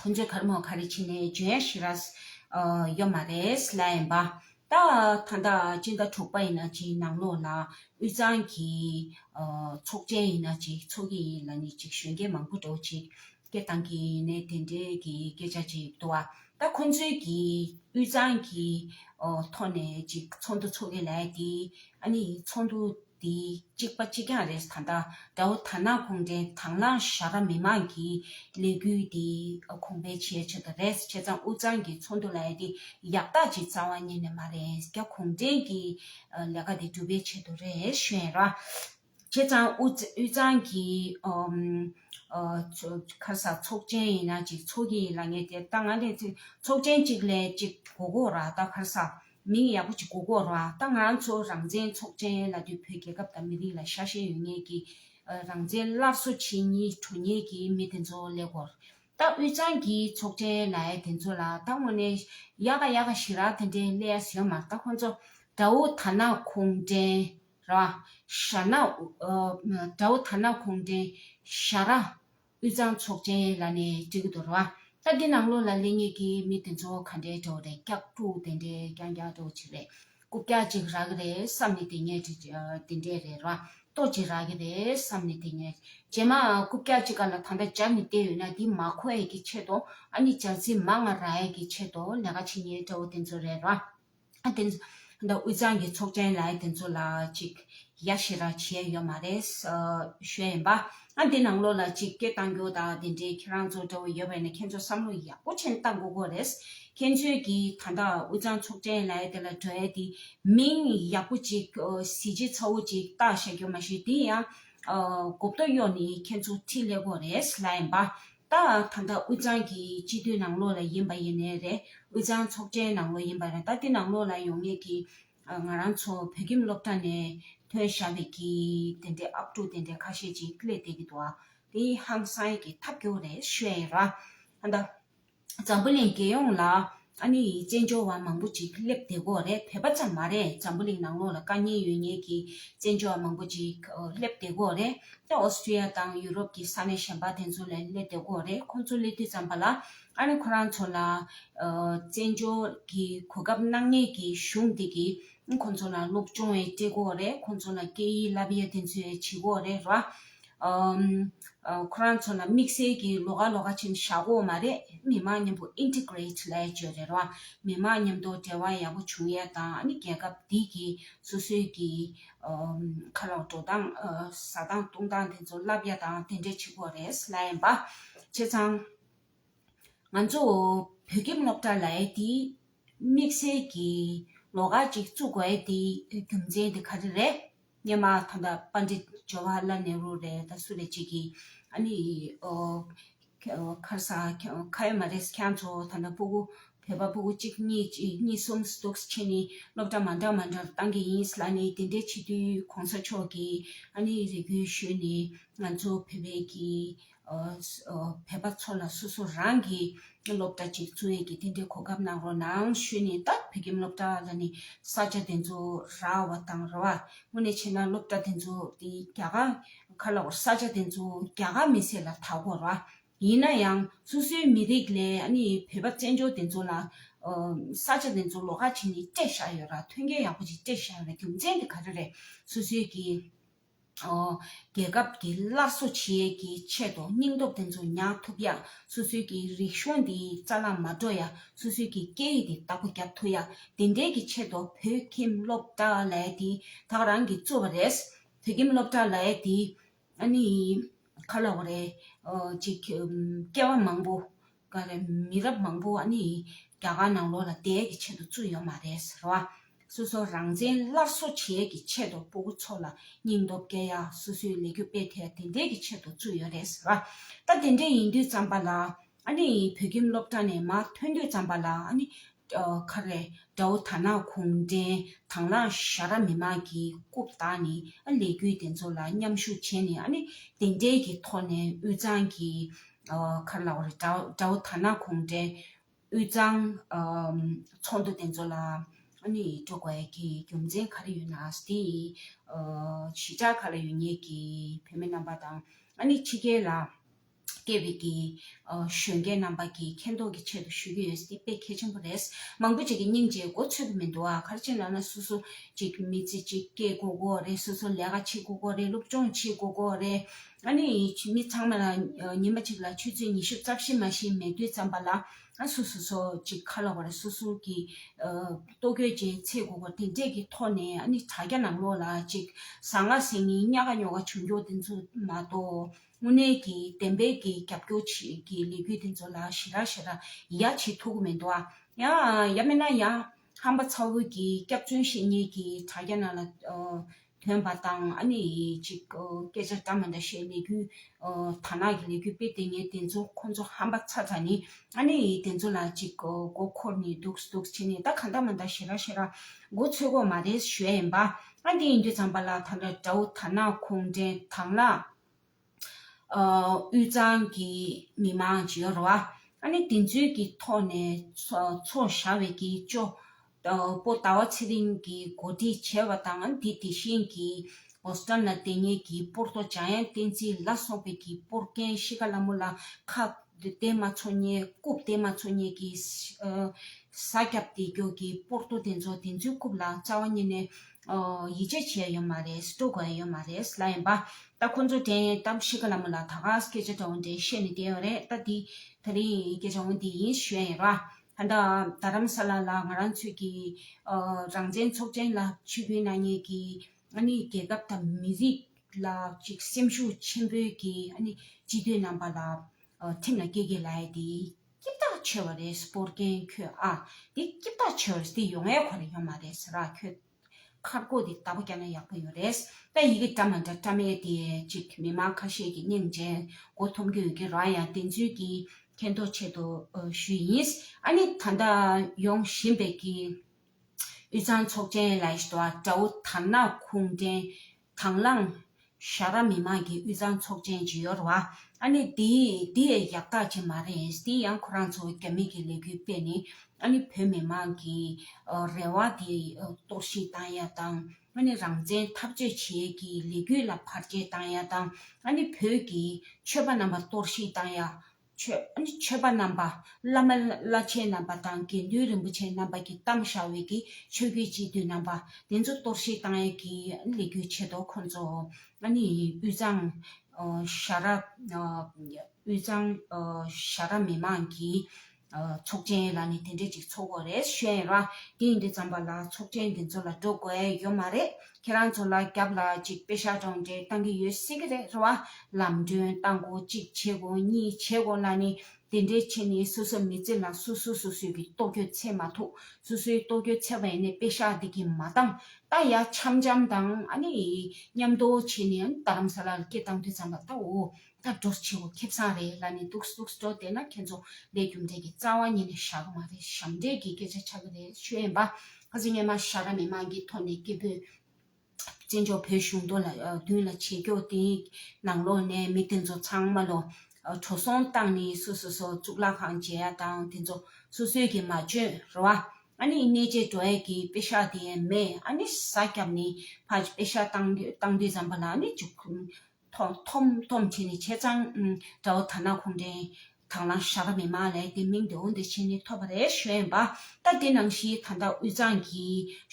ཁོ་ཚོའི་ཁར་མོ་ཁ་རེ་ཕྱིན་ནས་ཇོ་ཡ་ཤི་ར་ཡོད་མ་རེད་ལ་ཡིན་པ། ད་ད་ལྟ་སྤྱི་ཟླ་དྲུག་པ་ཡིན་ན་ཅིག་ནང་ལོགས་ལ་དབུས་གཙང་གི་ཚོགས་ཆེན་ཡིན་ན་ཅིག་ཚོགས་ཀྱི་ཡིན་ལ་ནི་ཅིག་གཞོན་སྐྱེས་མང་པོ་འགྲོ་ཅིག་སྐད་བཏང་གི་ཡིན་ནས་དེ་འདྲའི་གི་སྐད་ཆ་ཅིག་འདུག་བ། ད་ཁོ་ཚོའི་གི་དབུས་གཙང་གི་ཐོག་ནས་ཅིག་ཚོགས་འདུ་ཚོགས་ཀྱི་ལ་ཡ་དེ་ཨ་ནི་ཚོགས་འདུ་འདི་གཅིག་པ་གཅིག་རྐྱང་རེད་ད་ལྟ་དགྲ་བོ་དར་ནག་གུང་བྲན་དྭང་བླངས་བཞག་ར་མི་མང་གི་ལས་འགུལ་འདི་གོང་འཕེལ་བྱས་ཆོག་གི་རེད་བྱས་ཙང་འུ་ཚང་གི་ཚོགས་འདུ་ལ་ཡ་དེ་ཡག་རྟགས་ཅིག་རྩ་བ་ཉིད་ནས་མ་རེད་རྒྱ་གུང་བྲན་གྱི་ལས་ཀ་འདི་གྲུབ་པའི་ཆེད་དུ་རེད་བཤད་ར་བྱས་ཙང་འུ་ཚང་གི་ཁ་སང་ཚོགས་ཆེན་ཡིན་ན་ཅིག་ཚོགས་ཀྱི་ཡིན་ལ་ངས་དེ་ལྟ་ང་ལས་ཚོགས་ཆེན་གཅིག་ལས་གཅིག་གོ་གོ་ར་ད་ཁ་སང། མིང་ཡག་པོ་ཅིག་གོ་གོ་རོགས་ད་ང་ཚོ་རང་བཙན་ཚོགས་ཆེན་ལ་དུས་བོད་རྒྱལ་ཁབ་དང་མི་རིགས་ལ་ཤ་ཞེན་ཡོད་ངེས་ཀྱི་རང་བཙན་སླར་གསོ་བྱེད་གཉིས་གྲོ་ཉེས་ཀྱི་མི་དེ་ཚོ་ལས་གོ་རོགས་ད་དབུས་གཙང་གི་ཚོགས་ཆེན་ལའི་དེ་ཚོ་ལ་ད་དངོས་ནས་ཡག་ག་ཡག་ག་ཞིག་ར་དེ་འདྲའི་ལས་ཡ་ཟོས་མ་རྟ་ཁོ་ཚོ་དགྲ་བོ་ད་ནག་ཁུངས་འདྲེན་ར་ཞྭ་ནག་དགྲ་བོ་ད་ནག་ཁུངས་འདྲེན་ཞྭ་ར་དབུས་གཙང་ཚོགས་ཆེན་ལ་ནས་བྲིས་ཀྱི་དོར་བ་སྟབས་བདེ་གནང་ལོ་ལ་ལས་ངེད་ཀྱི་མི་དེ་ཚོ་ག་འདྲའི་གྲོགས་རེད་སྐྱག་ལྤྲུག་དེ་འདྲའི་རྐྱང་རྐྱང་ལྟོ་ཅི་རེད་རྐུབ་བཀྱག་ཅིག་རག་གི་རེད་བསམ་ནས་དེ་ངེད་བྲིས་དེ་འདྲའི་རེད་ར་ལྟོ་ཅི་རག་གི་རེད་བསམ་ནས་དེ་ངེད་བྱས་མ་རྐུབ་བཀྱག་ཅིག་ག་ལ་ད་འདྲ་འཇག་ནས་བསྡད་ཡོད་ན་འདི་མ་ཁོ་ཡས་ཀྱི་ཆེད་དུ་ཨ་ནི་ཇག་ཚིག་མ་ང་ར་ཡས་ཀྱི་ཆེད་དུ་ལས་ཀ་བྱེད་ངེད་ལྟ་བུ་དེ་ཚོ་རེད་ར། དེ་ཚོ་དབུས་གཙང་གི་ཚོགས་ཆེན་ལ་དེ་ཚོ་ལ་ཅིག་ཡ་ཤི་ར་བྱས་ཡོད་མ་རེད། ཞོད་ཡིན་པ། དེ་ནང་ལོགས་ལ་ཅིག་སྐད་བཏང་རྒྱུ་དང་དེ་འདྲའི་ཁྱེད་རང་ཚོ་འདྲ་བོ་ཡོད་པས་ནི་ཁྱེད་ཚོ་བསམ་བློ་ཡག་པོ་ཅན་བཏང་དགོས་དགོས་རེད། ཁྱེད་ཚོས་ཀྱི་ད་ལྟ་དབུས་གཙང་ཚོགས་ཆེན་ལ་དེ་ལ་གྲོས་ཡས་དེ་མིང་ཡག་པོ་ཅིག་གཟི་བརྗིད་ཚ་བོ་ཅིག་བཏགས་བཞག་རྒྱུ་མ་བཞི་དེ་ཡང་གོ་བསྡུར་གཡོག་ནི་ཁྱེད་ཚོ་ཁྲི་ལས་དགོས་རེད་ལ་ཡིན་པ། ལྟའང་ད་ལྟ་དབུས་གཙང་གི་སྤྱི་འཐུས་ནང་ལོགས་ལ་ཡིན་པ་ཡིན་ནའི་རེད་དབུས་གཙང་ཚོགས་གྲལ་ནང་ལོགས་ཡིན་པ་རེད་ད་དེ་ནང་ལོགས་ལ་ཡོང་ངེས་ཀྱི་ང་རང་ཚོ་བོད་ཁྱིམ་སློབ་གྲྭ་ནས་ཐོན་བཞག་པའི་གི་དེ་འདྲའི་ཨབ་ཕྲུག་དེ་འདྲའི་ཁ་ཤས་ཅིག་སླེ་བསྡད་ཀྱི་འདུག་དེ་ཧང་སངས་ཀྱི་ཐབས་སྐྱོ་རེད་ཤོད་ཡིན་ར། ད་ལྟ་འཛམ་བུ་གླིང་རྒྱལ་ཡོངས་ལ་ཨ་ནེ་ཡིས་བཙན་བྱོལ་བ་མང་པོ་ཅིག་སླེབས་བདེ་གོ་རེད་བོད་པ་ཙམ་མ་རེད་འཛམ་བུ་གླིང་ནང་ལོག་ལ་དཀའ་ཉེན་ཡོད་ཉེས་ཀྱི་བཙན་བྱོལ་བ་མང་པོ་ཅིག་སླེབས་བདེ་གོ་རེད་ཨོ་སི་ཀྲི་ཡ་དང་ཡུ་རོབ་ཀྱི་ས་གནས་གཞན་པ་དེ་ཚོ་ལས་སླེབས་བདེ་གོ་རེད་ཁོང་ཚོ་སླེབས་དུས་ཙམ་པ་ལ་ཨ་ནེ་ཁོ་རང་ཚོ་ལ་བཙན་བྱོལ་གྱི་གོ་སྐབས་གནང་ཉེས་ཀྱི་གཞུང་འདི་གི་ཁོང་ཚོ་ལ་སློབ་སྦྱོང་བའི་བཀྲེས་སྐོར་རེད་ཁོང་ཚོ་ལ་སྐད་ཡིག་བསླབ་ཡ་དེ་ཚོའི་བྱེད་སྒོ་རེད་ར། ཁོ་རང་ཚོ་ལ་དམིགས་བསལ་གྱི་ལོ་ག་ལོ་ག་ཆེན་བྱ་སྒོ་མ་རེད་མི་མང་མཉམ་པོ Integrate ལས་བཅོས་རེད་ར། མི་མང་མཉམ་དུ་འབྲེལ་བ་ཡག་པོ་བྱུང་ཡ་དང་ནི་རྒྱལ་ཁབ་འདི་གི་སོ་སོའི་གི་ཁ་ལག་འགྲོ་སྟངས་ཟ་སྟངས་བཏུང་སྟངས་དེ་ཚོ་བསླབ་ཡ་དང་དེ་འདྲའི་བྱེད་སྒོ་རེད་ལས་ཡིན་པ། བྱས་ཙང། ང་ཚོ་བོད་ཁྱིམ་སློབ་གྲྭ་ལ་ཡེ་དེ་དམིགས་བསལ་གྱི་ལོ་ཁག་ཅིག་བཙུགས་དགོས་ཡེ་དེ་རྒྱུ་མཚན་དེ་ག་རེ་རེད་སྙེ་མ་ཐོ་འདའ་པ་འདྲི་ཇོ་བྷ་ལ་ནེ་རུ་རེད་ད་སུ་རེད་ཅིག་གིས་ཨ་ནི་ཁར་ས་ཁ་ཡོད་མ་རེད་ཁྱེད་ཚོ་ཐ་ན་སྤུ་གུ་བོད་པ་སྤུ་གུ་གཅིག་གཉིས་གཉིས་གསུམ་འདུག་ཕྱིན་ནི་སློབ་གྲྭ་མ་འདྲ་མ་འདྲར་བཏང་གི་ཡིན་ལ་ནི་དེ་འདྲའི་བྱེད་དུས་གོང་ས་མཆོག་གིས་ཨ་ནི་རེ་སྐུལ་ཞུས་ནི་ང་ཚོ་བོད་པའི་གི་བོད་པ་ཚོ་ལ་སོ་སོ་རང་གི་སློབ་གྲྭ་གཅིག་བཙུགས་ཡས་ཀྱི་དེ་འདྲའི་གོ་སྐབས་གནང་རོགས་གནང་ཞུས་ནས་ད་བོད་ཁྱིམ་སློབ་གྲྭ་ལ་ནི་ས་ཆ་དེ་ཚོ་ར་བ་དང་ར་བ་དངོས་ནས་བྱས་ན་སློབ་གྲྭ་དེ་ཚོ་དེ་རྒྱ་གར་ཁ་ལ་བོར་ས་ཆ་དེ་ཚོ་རྒྱ་གར་མི་སེར་ལ་ད་གོ་ར་ཡིན་ན་ཡང་སོ་སོའི་མི་རིགས་ལས་ཨ་ནི་བོད་པ་བཙན་བྱོལ་དེ་ཚོ་ལ་ས་ཆ་དེ་ཚོ་ལོག་ཁ་བྱས་ནས་སྤྲད་བཞག་ཡོད་ར་ཐོན་སྐྱེད་ཡག་པོ་ཅིག་སྤྲད་བཞག་ཡོད་ར་རྒྱུ་མཚན་དེ་ག་རེ་རེད་སོ་སོའི་གི། རྒྱལ་ཁབ་ཀྱི་སླར་གསོ་བྱེད་ཀྱི་ཆེད་དུ་སྙིང་སྟོབས་དེ་ཚོ་ཉར་ཐུབ་ཡ། སོ་སོའི་ཀྱི་རིག་གཞུང་འདི་རྩ་ན་མ་འགྲོ་ཡ། སོ་སོའི་ཀྱི་སྐད་ཡིག་འདི་དག་པོ་རྒྱབ་ཐུབ་ཡ། དེ་འདྲའི་ཀྱི་ཆེད་དུ་བོད་ཁྱིམ་སློབ་གྲྭ་ལས་འདི་དག་རང་གིས་གཙོས་པ་རེད། བོད་ཁྱིམ་སློབ་གྲྭ་ལས་འདི་ཨ་ནི་ཁ་ལོ་བ་རེད། ཅིག་སྐྱེ་བ་མང་པོ་ག་རེ་མི་རབས་མང་པོ་བ་ནི་རྒྱ་གར་ནང་ལོག་ལ་དད་ཀྱི་ཆེད་དུ་བཙུན་ཡོད་མ་རེད་ཟེར་བ། སོ་སོ་རང་བཙན་སླར་གསོ་བྱེད་ཀྱི་ཆེད་དུ་སྤོ་གུ་ཚོ་ལ་སྙིང་སྟོབས་བསྐྱེད་ཡ་སོ་སོའི་ལས་རྒྱུ་སྤེལ་ཐལ་དེ་འདྲའི་ཀྱི་ཆེད་དུ་བཙུན་ཡོད་རེད་ཟེར་བ། ད་དེ་འདྲའི་ཡིན་དུས་ཙམ་པ་ལ་ཨ་ནི་བོད་ཁྱིམ་སློབ་གྲྭ་ནས་མ་ཐོན་དུས་ཙམ་པ་ལ་ཨ་ནི་ཁ་རེ། དགྲ་བོ་དར་ནག་གུང་བྲན་དང་བླངས་ཤ་ར་མི་དམངས་ཀྱི་རྐུབ་དག་ནི་ཨ་ལས་རྒྱུད་དེ་ཚོ་ལ་མཉམ་ཞུགས་བྱས་ནས་ཨ་ནི་དེ་འདྲའི་གི་ཐོག་ནས་དབུས་གཙང་གི་ཁར་ལའོ་རེ་དགྲ་བོ་དར་ནག་གུང་བྲན་དབུས་གཙང་ཚོགས་འདུ་དེ་ཚོ་ལ་ཨ་ནི་འགྲོ་དགོས་ཀྱི་རྒྱུ་མཚན་ག་རེ་ཡོད་ན་དེ་ཡི་གཞི་ཆགས་ག་ལ་ཡོད་ངེས་ཀྱི་བོད་མི་རྣམས་པ་དང་ཨ་ནི་ཕྱི་རྒྱལ་ལ་སྐད་བེད་ཀྱི་གཞོན་སྐྱེས་རྣམ་པ་ཀྱིས་མཁྱེན་རྟོགས་ཀྱི་ཆེད་དུ་ཞུ་རྒྱུ་ཡོད་ས་དེ་དཔེ་གལ་ཆེན་པོ་རེད། མང་པོ་ཅིག་གིས་སྙིང་རྗེའི་མགོ་ཚོད་པོ་མི་འདུག་ཨ་ཁར་ཅིག་ལབ་ན་སོ་སོ་ཅིག་མི་ཚེ་ཅིག་སྐྱེལ་དགོས་དགོས་རེད་སོ་སོ་ལས་ཀ་བྱེད་དགོས་དགོས་རེད་སློབ་སྦྱོང་བྱེད་དགོས་དགོས་རེད། ཨ་ནི་མི་ཚང་མ་ལ་ཉིན་མ་ཅིག་ལ་ཆུ་ཚོད་ཉི་ཤུ་རྩ་བཞི་མ་བཞི་མེད་དུས་ཙམ་པ་ལ་ཨ་སོ་སོ་སོ་ཅིག་ཁ་ལོ་བར་སོ་སོ་ཀྱི་ལྟོ་གོས་ཅན་འཚེད་དགོས་དགོས་དེ་འདྲས་ཀྱི་ཐོག་ནས་ཨ་ནི་དྲ་རྒྱ་ནང་ལོགས་ལ་ཅིག་ཟ་ང་ཟས་ངའི་སྙ་ག་སྙོ་ག་བྱུང་རྒྱུ་དེ་ཚོ་མ་གཏོགས། དངོས་གནས་ཀྱི་བདེན་པའི་གི་རྒྱབ་སྐྱོར་བྱེད་ཀྱི་ལས་གུས་དེ་ཚོ་ལ་ཞེ་རག་ཞེ་རག་ཡ་བྱེད་ཐུག་གི་མེད་འདུག་ཨ། ཡ་མེད་ན་ཡ། ཧམ་པ་ཚ་བོ་གི་སྐྱག་རྫུན་བཤད་ཉེས་ཀྱི་དྲ་རྒྱ་ནང་ལ་ཐོན་པ་དང་ཨ་ནི་ཅིག་སྐད་ཆ་འདྲ་མ་འདྲ་བཤད་ལས་གུས་དར་ནག་གི་ལས་གུས་དཔེ་དེ་ངས་དེ་ཚོ་ཁོ་ཚོ་ཧམ་པ་ཚ་ཚ་ནི་ཨ་ནི་དེ་ཚོ་ལ་ཅིག་མགོ་འཁོར་ནས་འདུག་འདུག་བྱེད་ནས་ད་གང་འདྲ་མ་འདྲ་ཞེ་རག་ཞེ་རག་མགོ་ཚོད་དགོས་མ་རེད་ཞོད་ཡན་པ་ཨ་འདི་ཡིན་དུས་ཚང་པ་ལ་ད་འདྲ་འདྲ་བོ་དར་ནག་ཁོང་འདྲེན་དང་ལ། དབུས་གཙང་གི་མི་མང་འབྱོར་བ། ཨཱ་ནི་དེ་ཚོའི་གི་ཐོག་ནས་ཚོགས་བཞག་བའི་གི་ཅོ་པོ་ཟླ་བ་ཚེ་རིང་གི་གོ་སྒྲིག་བྱས་བ་དང་ཨཱ་ནི་དེ་དེ་བཞིན་གི Boston ལ་དེ་སྔའི་གི་པོར་ཏོ་ཇཱ་ཡན་བསྟན་འཛིན་ལ་སོགས་པའི་གི་པོར་རྒན་གཤིས་ཀ་ལ་མོ་ལ་ཁ་བསྟན་མ་ཚོ་གཉེར་རྐུབ་བསྟན་མ་ཚོ་གཉེར་གི་ས་སྐྱབས་སྡེ་སྐྱོར་གི་པོར་ཏོ་དེ་ཚོ་དེ་ཚོའི་རྐུབ་ལ་རྩ་བ་ཉིད་ནས་ཡིད་ཆེས་བྱས་ཡོད་མ་རེད་སྤྲོ་དགོས་ཡོད་མ་རེད་ལབ་ཡིན་པ། ད་ཁོང་ཚོ་དྲན་ཡོད་སྟབས་ཤི་ཀ་ལ་མོ་ལ་ད་ག་ས་སྐད་ཆ་དྲང་བོ་འདྲ་བཤད་ནས་བསྡད་ཡོད་རེད་ད་དེ་ད་རིང་སྐད་ཆ་འོང་དེ་ཡིན་བཤད་ཡོད་ར། ད་རྡ་རམ་ས་ལ་ལ་ང་རང་ཚོས་ཀྱི་རང་བཙན་ཚོགས་ཆེན་ལ་ཆོས་ཕིན་གནང་ཡས་ཀྱི་ཨ་ནི་རྒྱལ་ཁབ་དང་མི་རིགས་ལ་ཅིག་སེམས་ཤུགས་ཆེན་པོའི་ཀྱི་ཨ་ནི་སྤྱི་འཐུས་རྣམ་པ་ལ་ཁྲིམས་ལ་སྐྱེ་དགེ་ལ་ཡས་དེ། སྐྱིབས་བདག་ཆེ་བ་རེད་སྤོར་མཁན་ཁྱོད་ཨ་དེ་སྐྱིབས་བདག་ཆེ་བ་རེད་དེ་ཡོང་ཨེ་གོ་རེད་ཡོང་མ་རེད་ཟེར་ར་ཁྱོད། ཁ་བསྐོ་དེ་ལྟ་བུ་རྒྱབ་ན་ཡག་པོ་ཡོད་རེད་ད་ཡི་གེ་བཀྲ་མ་འདྲ་བཀྲ་མེད་དེ་ཅིག་མི་མང་ཁ་ཤས་ཀྱི་སྙིང་རྗེ་མགོ་འཐོམ་རྒྱུ་ཡོད་ཀི་རང་ཡང་དེ་ཚུལ་གྱི་མཁྱེན་རྟོགས་ཆེད་དུ་ཞུས་ཡིན་ཨ་ནི་ད་ལྟ་ཡོང་བཞིན་པའི་གི་དབུས་གཙང་ཚོགས་ཆེན་ལ་ཞི་དོ་ཨ་དགྲ་བོ་དར་ནག་ཁུངས་འདྲེན་དང་བླངས། ཤ་ར་མི་མང་གི་དབུས་གཙང་ཚོགས་ཆེན་བྱེད་ཡོར་བ། ཨ་ནི་དེ་དེ་ཡག་རྟགས་ཅིག་མ་རེད་དེ་ཡང་ཁོ་རང་ཚོ་རྒྱ་མི་གི་ལས་འགུལ་སྤེལ་ནས་ཨ་ནི་བོད་མི་མང་གི་རེ་བ་དེ་གཏོར་བཤིག་བཏང་ཡ་དང་ཨ་ནི་རང་བཙན་འཐབ་རྩོད་བྱེད་ཀྱི་ལས་འགུལ་ལ་བར་ཆད་བཏང་ཡ་དང་ཨ་ནི་བོད་ཀྱི་ཆོས་པ་རྣམས་པ་གཏོར་བཤིག་བཏང་ཡ་ཆོས་མཆོད་པ་རྣམ་པ། བླ་མ་བླ་ཆེན་རྣམ་པ་དང་དགེ་འདུན་རིན་པོ་ཆེན་རྣམ་པ་ཀྱི་གཏམ་བྱ་བའི་གི་ཆོས་གོས་སྤྱི་བསྡུས་རྣམ་པ། དེ་ཚོ་གཏོར་བཤིག་བཏང་ཡས་ཀྱི་ལས་རྒྱུ་བྱེད་དོ་ཁོང་ཚོ། དབུས་གཙང། ཤ་ར། དབུས་གཙང། ཤ་ར་མི་མང་གི། ཚོགས་ཆེན་ལ་ནི་དེ་འདྲས་ཅིག་ཚོགས་དགོས་རེད་ཤེས་ཡས་ར། དེ་འདྲས་ཙམ་པ་ལ་ཚོགས་ཆེན་དེ་ཚོ་ལ་འགྲོ་དགོས་ཡོད་མ་རེད། ཁྱེད་རང་ཚོ་ལ་རྒྱབ་ལ་ཅིག་དཔེ་ཞར་གྲོང་འབྲེལ་གཏང་གི་ཡོད་སྲིད་ཀྱི་རེད་བ། ལམ་སྒྲོན་གཏང་གོ་གཅིག་བྱེད་དགོ་གཉིས་བྱེད་དགོ་ལ་ནི་དེ་འདྲའི་ཆེད་ནི་སོ་སོ་མི་བརྩི་ལ་སོ་སོ་སོ་སོའི་གི་ཏོག་གྱོད་ཚད་མ་ཐུག་སོ་སོའི་ཏོག་གྱོད་ཚད་བས་ནི་དཔེ་ཞར་དེ་གི་མ་གཏང་ད་ཡ་འཆམ་འཆམ་དང་ཨ་ནི་ཉམས་དོ་བྱེད་ནི་ཨ་ནི་རྡ་རམ་ས་ལ་ལ་སྐད་གཏང་དུས་ཙམ་ལ་ལྟ་འོ། ད་འགྲོ་ཆེ་བོ་ཁེབས་སངས་རེད་ལ་ནི་འདུག་འདུག་འགྲོ་བསྡད་ན་ཁྱེད་ཚོ་ལས་རྒྱུ་འབྲས་ཀྱི་རྩ་བ་ཉིད་ནས་ཤ་གི་མ་རེད་ཞབས་འདྲེན་གྱི་སྐད་ཆ་ཆགས་ཀྱི་རེད་ཆོས་ཡན་པ་ཁ་ཟི་རྙེད་མ་ཤ་ར་མི་མང་གི་ཐོག་ནས་སྐད་འབོད། བཙན་བྱོལ་བོད་གཞུང་དོ་ལ་མདུན་ལ་ཆེ་སྐྱོ་དེ་ནང་ལོག་ནས་མི་དེ་ཚོ་ཚང་མ་ལོ་བྲོ་སོང་སྟངས་ནི་སོ་སོ་སོ་གཙུག་ལག་ཁང་མཇལ་ཡ་དང་དེ་ཚོ་སོ་སོའི་གི་མ་བྱོན་ར་བ་ཨ་ནི་གནས་བྱས་འགྲོ་ཡ་གི་དཔེ་ཤ་དེ་མེད་ཨ་ནི་ས་སྐྱབས་ནི་ཕ་ཆ་དཔེ་ཤ་བཏང་དུས་བཏང་དུས་ཟམ་པ་ལ་ནི་འཇུག་ཐོམ་ཐོམ་ཐོམ་བྱས་ནས་བྱས་ཙང། དགྲ་བོ་དར་ནག་ཁོང་དྲན། དང་བླངས་ཤ་ཁ་མི་མང་ལས་དེ་མིང་དེ་འོ་འདི་བྱས་ནས་ཐོབ་པ་རེད་བཞོན་པ། ད་དེ་ནང་བཞིན་ད་ལྟ་དབུས་གཙང་གི།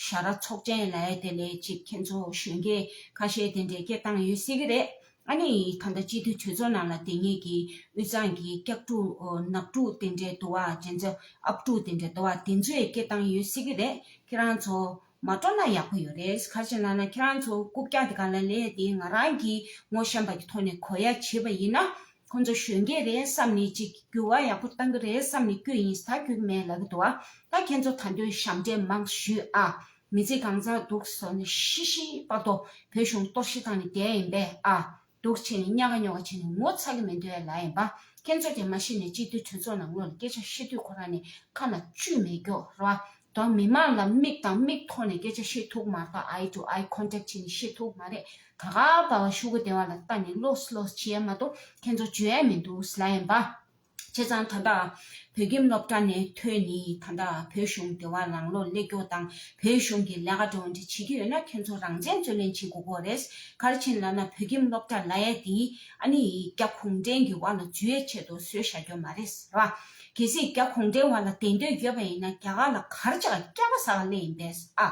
ཞྭ་ར་ཚོགས་ཆེན་ལས་དེ་ལས་གཅིག་ཁྱེད་ཚོ་བཞོན་གི། ཁ་ཤས་དེ་འདྲས་སྐད་བཏང་ཡོད་སྲིད་གི་རེད། ཨ་ནི་ད་ལྟ་སྤྱི་འཐུས་གྲོས་ཚོགས་ནང་ལ་དེ་ངེད་ཀྱི་དབུས་གཙང་གི་སྐྱག་ཕྲུག་ནག་ཕྲུག་དེ་འདྲས་དུ་བ་དྲན་ཚོ་ཨབ་ཕྲུག་དེ་འདྲས་དུ་བ་དེ་ཚོས་སྐད་བཏང་ཡོད་སྲིད་གི་རེད་ཁྱེད་རང་ཚོ། མ་སྤྲོ་ན་ཡག་པོ་ཡོད་རེད་ག་བྱེད་ན་ན་ཁྱེད་རང་ཚོ་རྐུབ་བཀྱག་དེ་ག་ལ་ལས་དེ་ང་རང་གིས་ངོ་ཤེས་པ་གི་ཐོག་ནས་གོ་ཡ་བྱེད་པ་ཡིན་ན་ཁོ་ཚོ་གཞོན་སྐྱེས་རེད་བསམ་ནས་ཅིག་འགྱུར་བ་ཡག་པོ་གཏང་གི་རེད་བསམ་ནས་བསྐྱོད་ཡིན་ད་བསྐྱོད་མེད་ལབ་གི་འདུག་ཨ་ད་ཁྱེད་ཚོ་ད་འདོད་ཞབས་འདྲེན་མང་ཞུས་ཨ་མི་ཚེ་གང་ཚར་འདུག་ཟོ་ནས་ཤི་ཤི་པ་ཏོ་བོད་གཞུང་གཏོར་ཤི་བཏང་ནས་བསྡད་ཡིན་པས་ཨ། སྡུག་བྱས་ནས་དམྱལ་ཁ་སྨྱོ་ཁ་བྱས་ནས་ངོ་ཚ་གི་མི་འདོད་ཡ་ལ་ཡིན་པ། ཁྱེད་ཚོ་དེ་མ་ཤེས་ནས་སྤྱི་འཐུས་གྲོས་ཚོགས་ནང་ངོས་ལ་སྐད་ཆ་བཤད་དུས་ཁོ་རང་ནི་ཁ་ན་ཆུ་མེད་སྐྱོགས་ར་དང་མི་མང་ལ་མིག་དང་མིག་ཐོག་ནས་སྐད་ཆ་བཤད་ཐུག་མ་ཐག་ཨའི་ཏུ་ཨའི་ཁོན་ཏྲེག་བྱས་ནས་བཤད་ཐུག་མ་རེད་ད་ག་པར་བ་ཤུ་གུ་སྡེ་བ་ལ་ལྟ་ནས་ལོས་ལོས་བྱས་ཡ་མ་གཏོགས་ཁྱེད་ཚོ་བརྗོད་ཡ་མི་འདུག་ལ་ཡིན་པ། བྱས་ཙང་ད་ལྟ་བོད་ཁྱིམ་སློབ་གྲྭ་ནས་ཐོན་ནས་ད་ལྟ་བོད་གཞུང་དེ་བ་ལང་ལོ་སླེ་སྐྱོ་དང་བོད་གཞུང་གི་ལས་ཀ་འགྲོ་འདྲི་བྱེད་ཀྱི་ཡོད་ན་ཁྱོད་ཚོ་རང་བཙན་རྩོད་ལེན་བྱེད་དགོས་གོ་རེད་གར་ཕྱིན་ལ་ན་བོད་ཁྱིམ་སློབ་གྲྭ་ལ་ཡས་དེ་ཨ་ནི་རྒྱ་གུང་བྲན་གྱི་བ་ལ་འཇུ་ཡས་ཆེད་དུ་བཟོས་བཞག་གྱོ་མ་རེད་ར་གལ་སྲིད་རྒྱ་གུང་བྲན་བ་ལ་དེ་འདོད་ཡོད་པ་ཡིན་ན་རྒྱ་གར་ལ་གར་ཆག་སྐྱག་པ་ཟ་བ་སླེ་ཡིན་པས་ཨ་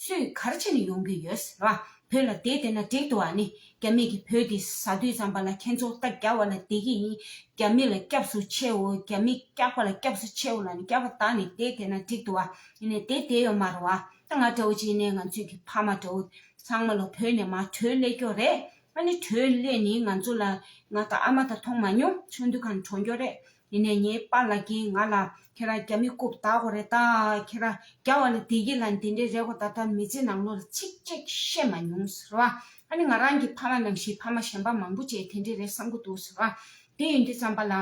སུས་གར་ཕྱིན་ཡོང་གི་ཡོད་ར་བོད་ལ་དེ་བསྟན་ན་འགྲིག་འདུག་ཨ་ནི་རྒྱ་མི་གིས་བོད་འདི་ཟ་དུས་ཙམ་པ་ལ་ཁྱེད་ཚོ་རྟ་རྒྱག་བ་ལ་བསྡད་ཀྱི་ཡིན་རྒྱ་མི་ལ་སྐྱབས་སུ་མཆེའོ་རྒྱ་མི་སྐྱག་པ་ལ་སྐྱབས་སུ་མཆེའོ་ལ་ནི་སྐྱག་པ་དག་ནི་དེ་བསྟན་ན་འགྲིག་འདུག་ཨ་ནི་དེ་བསྡད་ཡོད་མ་རུང་ཨ་ད་ང་འདྲ་བོ་ཅིག་ནས་ང་ཚོས་གི་ཕ་མ་འདྲ་བོ་ཚང་མ་ལ་བོད་ནས་མ་བྲོས་སླད་སྐྱོ་རེད་ཨ་ནི་བྲོས་སླད་ནི་ང་ཚོ་ལ་ང་དང་ཨ་མ་ད་མཐོང་མ་མྱོང་ཆུང་དུས་གང་དྲོ་འགྱོ་རེད་དེ་ནས་ངའི་པ་ལགས་ཀྱིས་ང་ལ་ཁྱེད་རང་རྒྱ་མི་རྐུབ་བདག་གོ་རེད་ད། ཁྱེད་རང་རྒྱ་བ་ལ་བདེ་སྐྱིད་ལ་འདི་འདྲའི་རེད་གོ་ད་ལྟ་མི་ཚེ་ནང་ལོ་ལ་ཚིག་གཅིག་བཤད་མ་མྱོང་ཟེར་བ། ཨ་ནི་ང་རང་གི་ཕ་ལ་ནང་བཞིན་ཕ་མ་གཞན་པ་མང་པོ་བྱས་དེ་འདྲའི་རེད་བསམ་གྱི་འདུག་ཟེར་བ། དེ་ཡིན་དུས་བརྩམས་པ་ལ་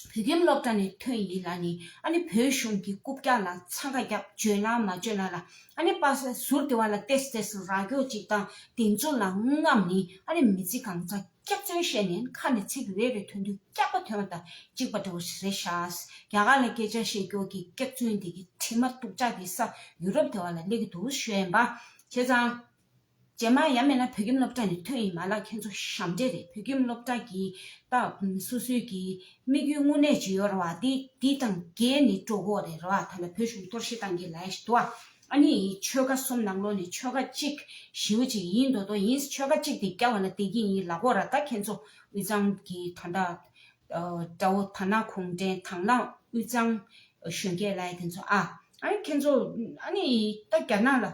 བོད་ཁྱིམ་སློབ་གྲྭ་ནས་ཐོན་ཡིན་ལ་ནི་ཨ་ནི་བོད་གཞུང་གི་རྐུབ་བཀྱག་ལ་འཚང་ཁ་བརྒྱབ་བརྗོད་ན་མ་བརྗོད་ན་ལ་ཨ་ནི་པ་ཟུར་དེ་བ་ལ་བལྟས་བལྟས་སུ་ར་སྐྱོ་ཅིག་དང་དེ་ཚོ་ལ་རྔམ་ནི་ཨ་ནི་མི་ཚེ་གང་ཚ། སྐྱག་རྫུན་བཤད་ནས་ཁ་ནས་ཚིག་རེ་རེ་ཐོན་དུས་སྐྱག་པ་ཐོན་བ་དང་གཅིག་པ་འདྲ་བོ་ཞིག་རེད་ཤག། རྒྱ་གར་ནས་སྐད་ཆ་བཤད་སྐྱོར་གྱི་སྐྱག་རྫུན་འདི་གི་དྲི་མ་སྟུག་ཅག་གི་ས་ཡུ་རོབ་དེ་བ་ལ་སླེབས་ཀྱི་འདུག་བཤད་འབའ་བྱས་ཙང། རྗེས་མ་ཡ་མེད་ན་བོད་ཁྱིམ་སློབ་གྲྭ་ནས་ཐོན་ཡིན་མ་ལགས་ཁྱེད་ཚོ་ཞབས་འདྲེ་རེད་བོད་ཁྱིམ་སློབ་གྲྭ་གི་སྟག་སུ་སུའི་གི་དམིགས་ཡུལ་དངོས་གནས་ཇི་ཡོད་ར་བ་དེ་དེ་དང་རྒྱས་ནི་སྤྲོ་གོ་རེད་ར་བ་ད་ལ་བོད་གཞུང་གཏོར་བཤིག་གཏང་གི་ལ་ཡ་ཞིག་འདུག་བ། ཨ་ནི་ཡིས་ཆོལ་ཁ་གསུམ་ནང་ལོགས་ནས་ཆོལ་ཁ་གཅིག་ཞེའུ་ཅིག་ཡིན་མདོག་མདོག་ཡིན་ཆོལ་ཁ་གཅིག་དེ་སྐྱ་བ་ལ་བལྟས་ཀྱིན་ཡིན་ལ་ཁོ་ར་ད་ཁྱེད་ཚོ་དབུས་གཙང་གི་ད་ལྟ་དགྲ་བོ་ད་ན་གུང་བྲན་དང་ན་དབུས་གཙང་གཞོན་སྐྱེས་ལ་ཡ་དེ་ཚོ་ཨ་ཨ་ཁྱེད་ཚོ་ཨ་ནི་ཡིས་ད་རྒྱ་ནག་ལ་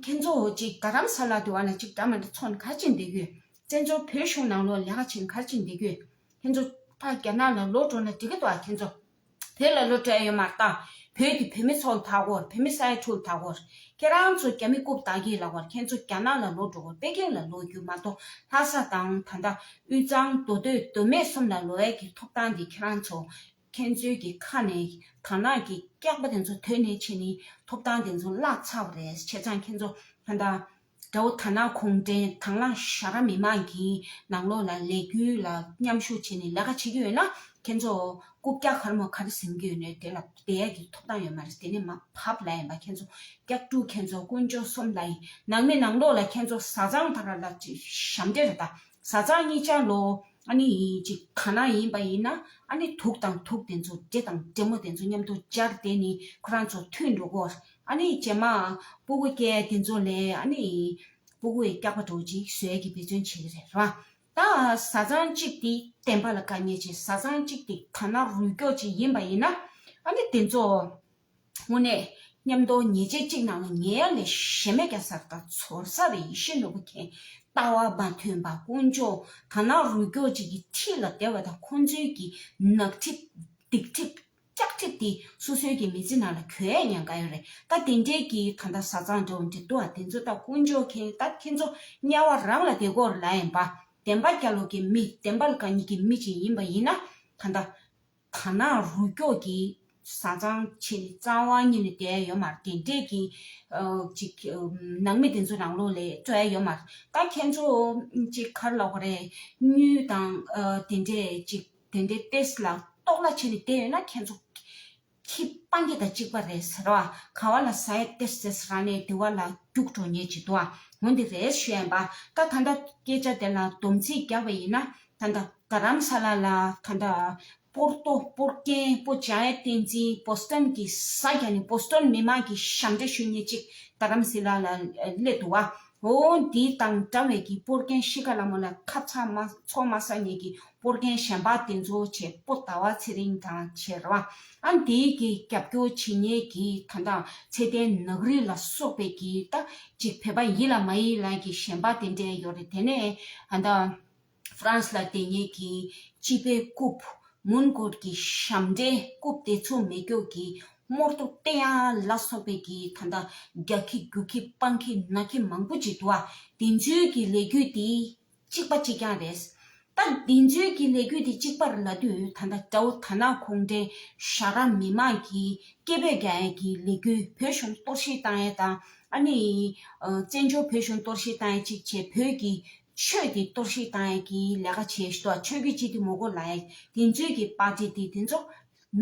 ཁྱེད་ཚོ་ཅིག་དགའ་རམ་ས་ལ་དེ་བ་ན་ཅིག་དགྲ་མ་དྲ་ཚོ་གར་ཅིག་འདེད་གྱོད་བཙན་བྱོལ་བོད་གཞུང་ནང་ལོགས་ལས་ཀ་བྱེད་གར་ཅིག་འདེད་གྱོད་ཁྱེད་ཚོ་ད་རྒྱ་ནག་ལ་ལོགས་འགྲོ་ན་འགྲིག་གི་འདུག་ཨ་ཁྱེད་ཚོ། བོད་ལ་བློ་བྲལ་ཡོད་མ་ལྟ། བོད་ཀྱི་བུད་མེད་ཚོ་ལ་ཐག་གོ་བུད་མེད་ས་ཡ་དྲུག་ལ་ཐག་གོ། ཁྱེད་རང་ཚོ་རྒྱ་མི་རྐུབ་དག་གིས་ལག་བར་ཁྱེད་ཚོ་རྒྱ་ནག་ལ་ལོག་འགྲོ་གོ་པེ་ཀེང་ལ་ལོག་རྒྱུ་མ་གཏོགས་ལྷ་ས་དང་ད་ལྟ་དབུས་གཙང་མདོ་སྟོད་མདོ་སྨད་གསུམ་ལ་ལོ་བལ་གྱི་ཐོབ་ཐང་འདི་ཁྱེད་རང་ཚོ་ཁྱེད་ཚོའི་གི་ཁ་ནས་དར་ནག་གི་སྐྱག་པ་དེ་ཚོ་དོད་ནས་ཕྱིན་ནས་ཐོབ་ཐང་དེ་ཚོ་བརླག་ཚར་བ་རེད་ཁྱེད་ཚང་ཁྱེད་ཚོ་ད་ལྟ་དགྲ་བོ་དར་ནག་གུང་བྲན་དང་བླངས་བཞག་ར་མི་མང་གི་ནང་ལོག་ལ་ལས་འགུལ་ལ་མཉམ་ཞུགས་བྱས་ནས་ལས་ཀ་བྱེད་ཀྱི་ཡོད་ན་ཁྱེད་ཚོ་རྐུབ་བཀྱག་ཁར་མོ་ཁར་ཟིན་གྱི་ཡོད་ནའི་དེ་ལ་བསྡད་ཡ་གྱི་ཐོབ་ཐང་ཡོད་མ་རེད་དེ་ནས་མ་བབ་ལ་ཡིན་པ་ཁྱེད་ཚོ་བཀྱག་དཀྲུག་ཁྱེད་ཚོ་དཀོན་མཆོག་གསུམ་ལ་ཡིན་ནང་མི་ནང་ལོག་ལ་ཁྱེད་ཚོ་བཟའ་ཚང་དང་ར་ལ་ཞབས་འདྲེ་ར་དང་བཟའ་ཚང་གཉིས་ཆ་ལོ་ཨ་ནི་ཡིན་ཅིག་ཐ་ན་ཡིན་པ་ཡིན་ན་ཨ་ནི་དུག་དང་དུག་དེ་ཚོ་འདྲེ་དང་འདྲེ་མོ་དེ་ཚོ་མཉམ་དུ་སྦྱར་དེ་ནི་ཁོ་རང་ཚོ་མཐུན་འགྲོ་གོ་ཨ་ནི་བྱེ་མ། སྤུ་གུ་སྐྱེ་དེ་ཚོ་ལས་ཨ་ནི། སྤུ་གུ་ཡི་སྐྱག་པ་དྲོ་ཅིག་ཟོས་ཀྱི་འབད་བརྩོན་བྱེད་ཀྱི་རེད་ར། ད་བཟའ་ཚང་གཅིག་དེ་བསྟན་པ་ལ་དཀའ་ཉེ་ཆེ་བཟའ་ཚང་གཅིག་དེ་ཐ་ན་རུས་སྐྱོག་ཅིག་ཡིན་པ་ཡིན་ན། ཨ་ནི་དེ་ཚོ། དངོས་གནས། མཉམ་འདོགས་ཉེས་ཆད་གཅིག་གནང་ན་ཉེ་ཡ་ལས་གཞན་མེད་ཀྱང་གསར་དང་ཚོར་གསར་བའི་ཡེ་ཤེས་ནོར་བུ་མཁན་ལྟ་བ་མ་ཐོན་པ་དཀོན་མཆོག་ཐ་ན་རུས་སྐྱོག་ཅིག་གི་ཁྲི་ལ་བདེ་བ་དང་ཁོང་ཚོའི་གི་ནག་ཁྲི་སྡིག་ཁྲི། སྐྱག་ཁྲིད་འདི་སོ་སོའི་གི་མི་ཚེ་ནང་ལ་གྱོད་ཡས་ཡང་ག་ཡོད་རེད་ད་དེ་འདྲས་གི་ད་ད་ཟ་ཚང་འདྲོ་འདྲེ་འདུ་བ་དེ་ཚོ་ད་དཀོན་མཆོག་མཁྱེན་ད་ཁྱེད་ཚོ་དམྱལ་བ་རང་ལ་དེ་གོར་ལ་ཡན་པ་བདེན་པ་སྐྱ་ལོ་གི་མི་བདེན་པ་ལ་ག་ཉིད་གི་མི་ཅིག་ཡིན་པ་ཡིན་ན་ད་ད་ད་ནང་རུ་སྐྱོག་གི་ཟ་ཚང་ཆེ་ནི་གཙང་བ་སྙི་ནི་བདེ་ཡས་ཡོད་མ་རེད་དེ་འདྲས་གི་ཅིག་ནང་མི་དེ་ཚོ་རང་ལོ་ལས་སྤྲོ་ཡས་ཡོད་མ་རེད་ད་ཁྱེད་ཚོ་ཅིག་གར་ལོག་གོ་རེད་སྙུས་དང་དེ་འདྲས་ཅིག། དེ་འདྲའི་ཏེས་ལ་རྟོག་སླ་བྱས་ནས་བསྡད་ཡོད་ན་ཁྱེད་ཚོ། ཁྱི་སྤང་རྒྱ་དང་གཅིག་པ་རེད་ཟེར་བ་ག་བ་ལ་ཟ་ཡས་ཏེས་ཟེས་ར་ནས་དེ་བ་ལ་རྒྱུགས་འགྲོ་ཉེས་བྱེད་དུ་ངོ་འདི་རེད་ཞུ་ཡན་པ་ད་ད་ད་སྐད་ཆ་དེ་ལ་སྡོམ་ཚིག་རྒྱག་པ་ཡིན་ན་ད་ད་ག་རམ་ས་ལ་ལ་ད་ད་པོར་ཏོ་པོར་ཀན་པོ་ཅཱ་ཡ་བསྟན་འཛིན Boston གི་ས་རྒྱ་ནས Boston མི་མང་གི་ཞབས་འདྲེན་ཞུ་ཉེས་ཅིག་ད་རམ་ཟི་ལ་ལ་སླེབས་འདུག་བ་བོ་འདི་དང་འདྲ་བའི་གི་པོར་རྒན་ཤི་ཀ་ལ་མོ་ལ་ཁ་ཚ་མ་ཚོ་མ་ས་ཉེ་གི་པོར་རྒན་གཞན་པ་དེ་ཚོ་བྱེད་པོ་ད་བ་ཚེ་རིང་དང་ཆེ་ར་བ་ཨ་འདི་གི་རྒྱབ་སྐྱོ་བྱེད་ཉེ་གི་ད་འདྲ་ཚེ་ཏན་ནག་རི་ལ་སོག་པའི་གི་ད་ཅིག་བེད་པ་ཡིད་ལ་མ་ཡིད་ལ་གི་གཞན་པ་དེ་འདྲ་ཡོ་རེ་དེ་ནས་ཨ་འདྲ། France ལ་དེ་ཉིད་ཀྱི་སྤྱི་པའི་རྐུབ། མུན་སྐོར་གྱི་ཞབས་འདྲེན་རྐུབ་དེ་ཚོ་མེ་སྒྱོགས་ཀྱི་རྨོར་དུ་བསྟན་ཡ་ལ་སོགས་པའི་གི་ད་ལྟ་རྒྱག་གི་རྒྱུག་གི་སྤང་གི་ན་གི་མང་པོ་ཅིག་འདུག་དེ་འཇུས་ཀྱི་ལས་རྒྱུ་དེ་གཅིག་པ་གཅིག་ཀྱང་རེད། ད་དེ་འཇུས་ཀྱི་ལས་རྒྱུ་དེ་གཅིག་པར་ལ་དུས་ད་ལྟ་ཀྲའུ་ཐ་ན་གུང་ཁྲན་ཤ་ར་མི་དམངས་ཀྱི་སྐད་འབོད་རྒྱག་ཡ་གི་ལས་རྒྱུ་བོད་གཞུང་གཏོར་བཤིག་བཏང་ཡ་དང་ཨ་ནི་བཙན་བྱོལ་བོད་གཞུང་གཏོར་བཤིག་བཏང་ཡ་གཅིག་བྱས་བོད་ཀྱི་ཆོས་ཀྱི་གཏོར་བཤིག་བཏང་ཡས་ཀྱི་ལས་ཀ་བྱེད་ཞོ་ཆོས་ཀྱི་སྤྱི་ཏི་མོ་གོ་ལ་ཡས་དེ་མཛོད་ཀྱི་པ་ཏི་ཏི་དེ་ཚོ་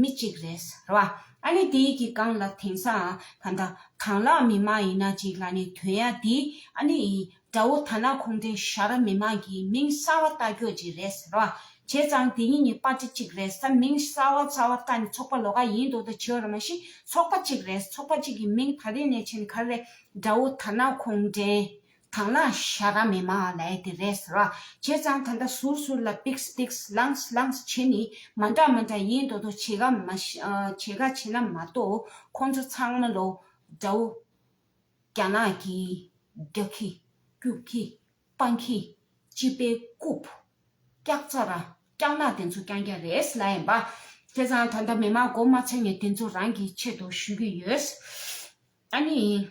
མི་གཅིག་རེད་ར་བ་ཨ་ནི་དེ་ཡི་གི་གང་ལ་དེང་སང་ད་ད་གང་ལ་མི་མ་ཡིན་ན་ཅིག་ལ་ནི་དོན་ཡ་དེ་ཨ་ནི་ཡི་དགྲ་བོ་ཐ་ན་ཁོང་དེ་ཤ་ར་མི་མ་གི་མིང་གསར་བ་ལྟ་ཀྱོ་ཅིག་རེད་ར་བ་བྱས་ཙང་དེ་ཉིད་ནི་པ་ཏི་གཅིག་རེད་ས་མིང་གསར་བ་གསར་བ་ལྟ་ནི་ཚོགས་པ་ལོ་ག་ཡིན་དོ་ད་ཆོས་ར་མ་ཤི་ཚོགས་པ་གཅིག་རེད་ཚོགས་པ་གཅིག་གི་མིང་ད་དེ་ནས་ཕྱིན་གར་རེད་དགྲ་བོ་ཐ་ན་ཁོང་དྲན་དང་ལ་ཤ་ཀ་མེད་མ་ལས་དེ་རེད་ར་བྱས་ཙང་ད་ལྟ་ཟུར་ཟུར་ལ་པིགས་པིགས་བསླངས་བསླངས་བྱས་ནི་མ་འདྲ་མ་འདྲ་ཡིན་དོ་དོ་བྱེད་ག་མ་བྱེད་ག་བྱེད་ན་མ་གཏོགས་ཁོང་ཚོ་ཚང་མ་ལོ་འདྲ་བོ། རྒྱ་ནག་གི་རྒྱག་གི་རྒྱུག་གི་སྤང་གི་སྤྱི་པའི་རྐུབ་བཀྱག་ཚ་ར་བཀྱག་ནག་དེ་ཚོ་རྐྱང་རྐྱང་རེད་ལ་ཡིན་པ། བྱས་ཙང་ད་ལྟ་མི་མང་མགོ་མ་ཚོས་ནི་དེ་ཚོ་རང་གི་ཆེད་དུ་ཞུས་ཀྱི་ཡོད། ཨ་ནི།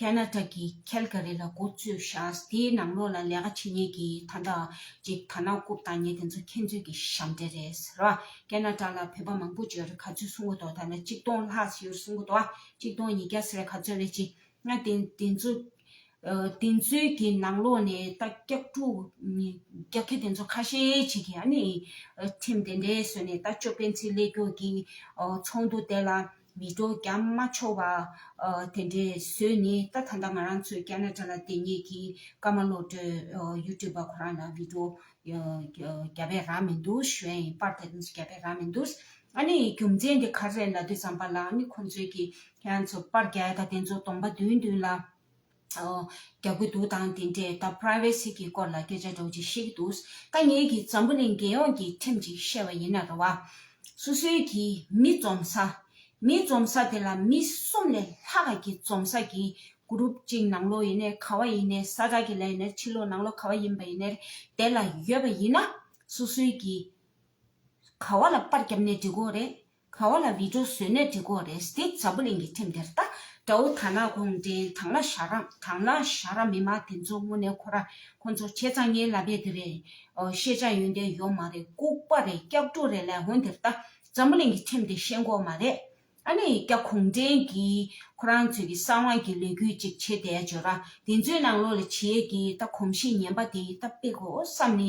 ཀ་ན་ཀྲ་གི་ཁལ་ཀ་རི་ལ་འགོ་བཙུད་བཞག་དེའི་ནང་ལོགས་ལ་ལས་ཀ་བྱེད་ཉེས་ཀྱི་ད་ལྟ་ཅིག་ད་ནང་རྐུབ་བཏགས་ཉེས་དེ་ཚོ་ཁྱེད་ཚོས་ཀྱི་ཞབས་འདྲེ་རེད་ཟེར་བ་ཀ་ན་ཀྲ་ལ་བོད་པ་མང་པོ་བྱོལ་ག་ཚོད་སོང་གི་འདུག་ད་ལ་གཅིག་སྟོང་ལྷག་བྱོལ་སོང་གི་འདུག་གཅིག་སྟོང་ཉིས་བརྒྱ་ཟེར་བ་ག་ཚོད་རེད་ཅིག་ང་དེ་དེ་ཚོ་དེ་ཚོའི་ཀྱི་ནང་ལོགས་ནས་ད་སྐྱག་ཕྲུག་སྐྱག་ཁེ་དེ་ཚོ་ཁ་ཤས་ཅིག་གི་ཨ་ནི་ཁྲིམས་དེ་འདྲའི་བཟོས་ནས་ད་ཅོ་སྤེན་ཚེ་ཀླད་སྐྱོག་གི་ཚོགས་འདུ་དེ་ལ། མི་སྤྲོ་རྒྱ་མ་འཆོར་བ། དེ་འདྲའི་བཟོས་ནི་ད་ད་ལྟ་ང་རང་ཚོའི་སྐྱ་ན་དགྲ་ལ་དེ་ཉིད་ཀྱི་སྐར་མ་བློ་གྲོས་གཡུ་སྤྲུལ་པ་ཁོ་རང་ལ་མི་སྤྲོ་རྒྱ་བས་རག་མི་འདུག་གཞོན་ཡིན་པར་ད་དུང་སུ་རྒྱ་བས་རག་མི་འདུག། ཨ་ནི་རྒྱུ་མཚན་དེ་གར་རེད་ལ་དུས་བརྩམས་པ་ལ་ཨ་ནི་ཁོང་ཚོས་ཀྱི་ཁྱེད་རང་ཚོ་པར་རྒྱལ་དང་དེ་ཚོ་སྟོང་པ་བདུན་བདུན་ལ་རྒྱག་གི་འདུག་དང་དེ་འདྲའི་ད Privacy གི་སྐོར་ལ་སྐད་ཆ་སྒྲོག་ཅིག་ཤེས་ཀྱི་འདུག་ད་ངེད་ཀྱིས་འཛམ་བུ་གླིང་རྒྱལ་ཡོངས་ཀྱི་ཁྲིམས་ཅིག་བཤད་པ་ཡིན་ན་རེ་བ། སོ་སོའི་གིས་མི་འཛོམས་ས། མི་འཛོམས་ས་དེ་ལ་མི་གསུམ་ལས་ལྷག་ག་གིས་འཛོམས་ས་གིས Group གཅིག་ནང་ལོགས་ཡིན་ནས་ག་བ་ཡིན་ནས་ས་དག་གི་ལས་ཡིན་ནས་ཕྱི་ལོགས་ནང་ལོགས་ག་བ་ཡིན་པ་ཡིན་ནས་དེ་ལ་ཡོད་པ་ཡིན་ན་སོ་སོའི་གིས་ག་བ་ལ་པར་རྒྱབ་ནས་འབྲི་དགོས་རེད་ག་བ་ལ་བི་ཀྲོ་བཟོས་ནས་འབྲི་གོ་རེད་སྟིག་འཛམ་བུ་གླིང་གི་ཁྲིམས་དེར་ལྟ། དགྲ་བོ་དར་ནག་གུང་ཁྲན་དང་ལ་ཞྭ་ར་དང་ལ་ཞྭ་ར་མི་མང་དེ་ཚོ་དངོས་གནས་ཁོ་ར་ཁོ་ཚོ་བྱས་ཙང་ངའི་ལ་བེ་དེ་རེད། ཤེས་བྱ་ཡོན་ཏན་ཡོད་མ་རེད་ལྐུག་པ་རེད་སྐྱག་ལྤྲོ་རེད་ལས་འོན་དེར་ལྟ་འཛམ་བུ་གླིང་གི་ཁྲིམས་དེ་ཤེས་མགོ་མ་རེད། ཨ་ནི་སྐྱག་གུང་ཁྲན་གྱིས་ཁོ་རང་ཚོས་ཀྱི་གསང་བ་གྱི་ལས་འགུལ་ཅིག་བྱེད་དེ་བརྗོད་ར་དེ་ཚོའི་ནང་ལོག་ལ་བྱེད་ཀྱི་ལྟ་གོམས་གཤིས་ངན་པ་དེ་ལྟ་དཔེ་གོ་བསམ་ནི་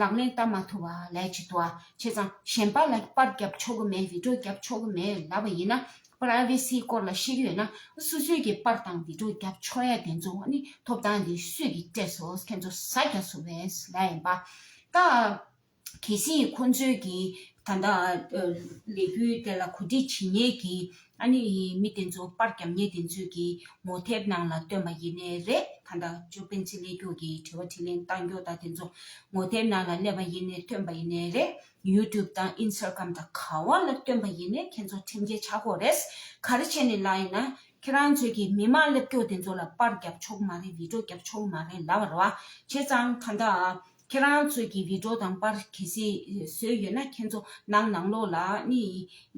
ལག་ལེན་བསྟར་མ་ཐུབ་པ་ལས་ཀྱི་དུ་བ་ཆེ་ཙང་གཞན་པ་ལ་པར་བརྒྱབ་ཆོག་གི་མེད་བིད་ཀྲོ་བརྒྱབ་ཆོག་གི་མེད་ལབ་པ་ཡིན་ན Privacy སྐོར་ལ་ཤེས་ཀྱི་ཡོད་ན་སུ་སུས་ཀྱིས་པར་དང་བིད་ཀྲོ་བརྒྱབ་ཆོག་ཡ་དེ་ཚོ་ནི་ཐོབ་ཐང་དེ་སུས་ཀྱིས་སྤྲད་སོགས་ཁྱེད་ཚོ་ས་སྐྱ་སུ་བས་ལས་ཡིན་པ་ད་གལ་སྲིད་ཁོང་ཚོས་ཀྱིས་ད་ལྟ་ལས་འགུལ་དེ་ལ་གོ་སྒྲིག་བྱེད་ཉེས་ཀྱི་ཨ་ནེ་ཡིས་མི་དེ་ཚོ་པར་རྒྱབ་ཉེས་དེ་ཚོས་ཀྱི་ངོ་དེབ་ནང་ལ་བཏོན་པ་ཡིན་ནི་རེད་ད་ལྟ་ཅོ་སྤེན་ཚེ་ལས་རྒྱུགས་ཀྱི་དྲི་བ་དྲིས་ལན་གཏང་རྒྱུ་དང་དེ་ཚོ་ངོ་དེབ་ནང་ལ་སླེབས་པ་ཡིན་ནི་བཏོན་པ་ཡིན་ནི་རེད་ཡུ་ཏུབ་དང་ཨིན་སར་ཀམ་དང་ག་བ་ལ་བཏོན་པ་ཡིན་ནི་ཁྱེད་ཚོ་ཁྲིམས་འགལ་ཆག་གོ་རེད་ག་རེ་བྱས་ནི་ལ་ཡིན་ན་ཁྱེད་རང་ཚོས་ཀྱི་མི་མང་སླེབས་རྒྱུགས་དེ་ཚོ་ལ་པར་རྒྱབ་ཆོག་མ་རེད་བིད་འགྲོ་རྒྱབ་ཆོག་མ་རེད་ལབ་བར་བ་བྱས་ཙང་ད་ལྟ་ཨ་ཁྱེད་རང་ཚོས་ཀྱི་བི་ཀྲོ་དང་པར་གལ་སྲིད་བཟོས་ཡོད་ན་ཁྱེད་ཚོ་ནང་ནང་ལོག་ལ་ནི་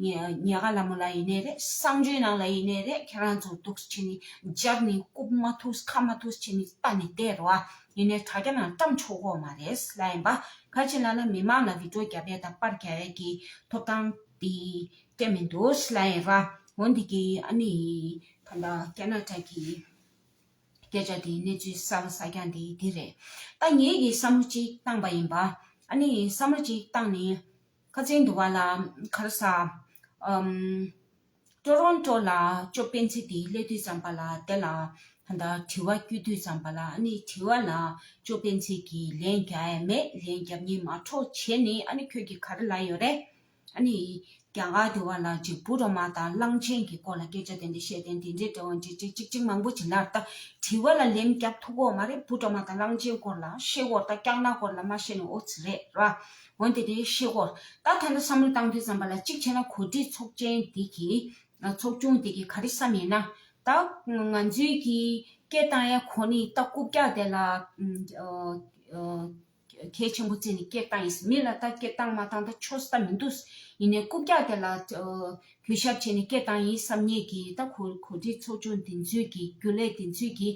ཉེ་ག་ལ་མོ་ལ་ཡིན་ནའི་རེད་བསང་ཆུའི་ནང་ལ་ཡིན་ནའི་རེད་ཁྱེད་རང་ཚོ་འདུག་བྱེད་ནི་འཇབ་ནི་རྐུབ་མ་ཐུགས་ཁ་མ་ཐུགས་བྱེད་ནི་ལྟ་ནི་བལྟས་རོ་ཨ་ཡིན་ནའི་དྲ་རྒྱ་ནང་བཀྲམ་ཆོག་གོ་མ་རེད་ལ་ཡིན་པ་ག་ཅིག་ལ་ན་མི་མང་ལ་བི་ཀྲོ་རྒྱ་བལ་དང་པར་རྒྱ་བལ་གྱི་ཐོབ་ཐང་དེ་སྐྱེ་མི་འདུག་ལ་ཡིན་ར་འོ་འདི་གི་ཨ་ནི་ད་ལྟ་རྒྱ་ནག་དྲ་གི། སྐད་ཆ་དེའི་གནས་ཚུལ་གསལ་བོ་ཟ་རྒྱ་འདི་འདི་རེད། ད་ངེད་ཀྱིས་བསམ་བློ་གཅིག་བཏང་པ་ཡིན་པ། ཨ་ནི་བསམ་བློ་གཅིག་བཏང་ནས། ཁ་ཚན་དུ་བ་ལ་ཁར་གསར། ཀྲོ་རོང་ཀྲོ་ལ་ཅོ་སྤེན་ཚེ་དེའི་སླད་དུས་ཙམ་པ་ལ་དེ་ལ། ད་ལྟ་དྲི་བ་བསྐྱུར་དུས་ཙམ་པ་ལ་ཨ་ནི་དྲི་བ་ལ་ཅོ་སྤེན་ཚེ་གིས་ལན་རྒྱ་ཡས་མེད་ལན་རྒྱབ་གཉིས་མ་འཕྲོག་བྱས་ནས་ཨ་ནི་ཁྱོད་ཀྱིས་ག་རེ་ལ་ཡོད་རེད། ཨ་ནི། རྒྱ་གར་དུ་བ་ལ་རྗེ་བུ་རོ་མ་དང་གླང་ཆེན་གྱི་སྐོར་ལ་སྐད་ཆ་དེ་འདྲ་བཤད་དེ་འདི་འདྲའི་འབྲེལ་བ་འདྲི་འདྲི་ཅིག་ཅིག་མང་པོ་བྱེད་ན་ད་དྲི་བ་ལ་ལན་རྒྱག་ཐུབ་གོ་མ་རེད་བུ་རོ་མ་དང་གླང་ཆེན་སྐོར་ལ་ཤེས་སྐོར་དང་སྐྱག་ནག་སྐོར་ལ་མ་བཤད་ན་འོས་རེད་ར་འོན་ཏེ་དེ་ཤེས་སྐོར་ད་ཐ་ན་བསམ་བློ་བཏང་དུས་བསམ་པ་ལ་གཅིག་བྱས་ན་གོ་སྒྲིག་ཚོགས་ཆེན་དེ་གི་ཚོགས་ཆུང་དེ་གི་ག་རེ་བསམ་ཡིན་ན་ད་ང་ཚོའི་གི་སྐད་བཏང་ཡ་ཁོ་ནི་ད་རྐུབ་བཀྱག་དེ་ལ་གལ་ཆེན་པོ་བཙལ་ནས་སྐད་བཏང་ཡིན་སྲིད་མི་ལ་ལྟ་སྐད་བཏང་མ་བཏང་ད་ཆོས་ལྟ་མི་འདུག་ཡིན་ནའི་རྐུབ་བཀྱག་དེ་ལ་གུས་ཞབས་བྱས་ནས་སྐད་བཏང་ཡིན་བསམ་ངེས་ཀྱི་ད་གོ་སྒྲིག་ཚོགས་ཆུང་འདི་ཚོས་ཀྱི་རྒྱུ་ལས་འདི་ཚོས་ཀྱི་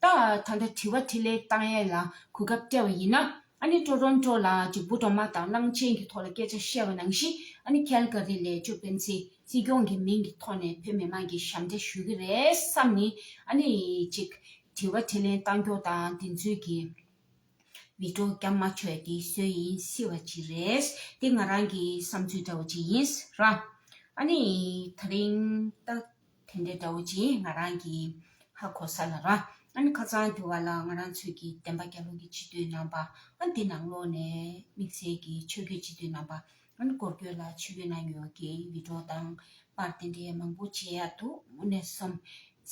ད་ད་ལྟ་དྲི་བ་དྲི་ལན་བཏང་ཡས་ལ་གོ་སྐབས་སྤྲད་བ་ཡིན་ན་ཨ་ནི་ཀྲོ་ཀྲོན་ཀྲོ་ལ་ཅིག་འབུ་གྲོག་མ་དང་གླང་ཆེན་གྱི་ཐོག་ལ་སྐད་ཆ་བཤད་བ་ནང་བཞིན་ཨ་ནི་ཁལ་ཀ་རི་ལས་ཅོ་སྤེན་ཚེ་སྲིད་སྐྱོང་གི་མིང་གི་ཐོག་ནས་བོད་མི་དམངས་ཀྱི་ཞབས་འདྲེན་ཞུ་གི་རེད་བསམ་ནི་ཨ་ནི་ཅིག་དྲི་བ་དྲི་ལན་བཏང་སྐྱོ་དང་འདི་ཚོས་ཀྱི། མི་འགྲོ་རྒྱ་མ་ཆོས་འདི་སུའི་ཡིན་སྲིད་བ་ཅི་རེད་འདི་ང་རང་གི་བསམ་ཚུལ་འདྲ་བོ་ཅིག་ཡིན་རང་ཨ་ནི་ད་རིང་ལྟ་དེ་འདྲ་འདྲ་བོ་ཅིག་ཡིན་ང་རང་གི་ཧ་གོ་ས་ལ་རང་ཨ་ནི་ཁ་ཚང་དེ་བ་ལ་ང་རང་ཚོས་ཀྱི་བདེན་པ་རྒྱ་ལུགས་ཀྱི་སྤྱི་འཐུས་རྣམ་པ་ཨ་འདི་ནང་ལོག་ནས་དམིགས་བསལ་གྱི་ཆོས་རྒྱུད་སྤྱི་འཐུས་རྣམ་པ་ཨ་ནི་སྐོར་སྐྱོད་ལ་ཆོས་རྒྱུད་ནང་ཡོད་ཀྱི་མི་འགྲོ་དང་པར་དེ་འདྲའི་མང་པོ་བྱེད་ཡག་འདུག་མུ་ནས་སོམས་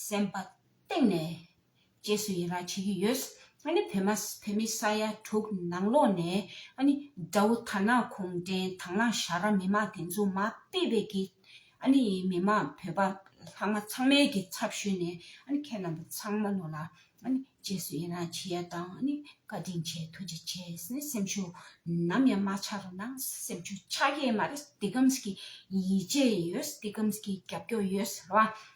སེམས་པ་གཏིང་ནས་རྗེས་སུ་ཡི་རངས་བྱེད་ཀྱི་ཡོད། ཨ་ནི་བོད་མ་བོད་མི་ས་ཡ་དྲུག་ནང་ལོགས་ནས་ཨ་ནི་དགྲ་བོ་དར་ནག་གུང་བྲན་དང་ལང་ཞྭ་ར་མི་མང་དེ་ཚོ་མ་དཔེ་བས་ཀྱི་ཨ་ནི་མི་མང་བོད་པ་ལྷག་མ་ཚང་མའི་ཀྱི་ཚབ་ཞུས་ནས་ཨ་ནི་ཁྱེད་རྣམ་པ་ཚང་མ་ནོར་ལ་ཨ་ནི་རྗེས་སུ་ཡི་རངས་བྱེད་ཡ་དང་ཨ་ནི་བཀའ་དྲིན་ཆེ་ཐུགས་རྗེ་ཆེ་སེ་སེམས་ཤུགས་ནམ་ཡང་མ་ཆག་རོ་ནང་སེམས་ཆུ་ཆག་ཡས་མ་རེད་སྟི་ཀམ་སྐྱི་ཡིད་ཆེས་ཡོད་སྟི་ཀམ་སྐྱི་རྒྱབ་སྐྱོར་ཡོད་རེད་བ་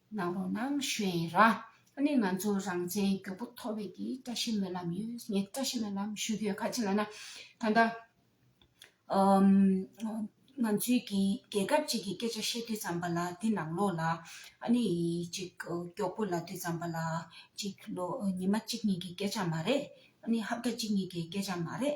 ནང་རོགས་ནང་ཞུས་ཡིན་ར་ནི་ང་ཚོ་རང་བཙན་རྒྱོ་པོ་ཐོ་བས་ཀྱི་བཀྲ་ཤིས་སྨོན་ལམ་ཡོད་ངས་བཀྲ་ཤིས་སྨོན་ལམ་ཞུ་རྒྱོ་ག་ཅི་ལ་ན་ད་ལྟ་ང་ཚོའི་གི་རྒྱལ་ཁབ་ཅིག་གི་སྐད་ཆ་བཤད་དུས་ཙམ་པ་ལ་དེ་ནང་ལོགས་ལ་ཨ་ནི་ཅིག་རྒྱོག་པོ་ལ་དུས་ཙམ་པ་ལ་ཅིག་ལོ་ཉི་མ་གཅིག་གཉིས་ཀྱི་སྐད་ཆ་མ་རེད་ཨ་ནི་ཧབ་ཏ་གཅིག་གཉིས་ཀྱི་སྐད་ཆ་མ་རེད་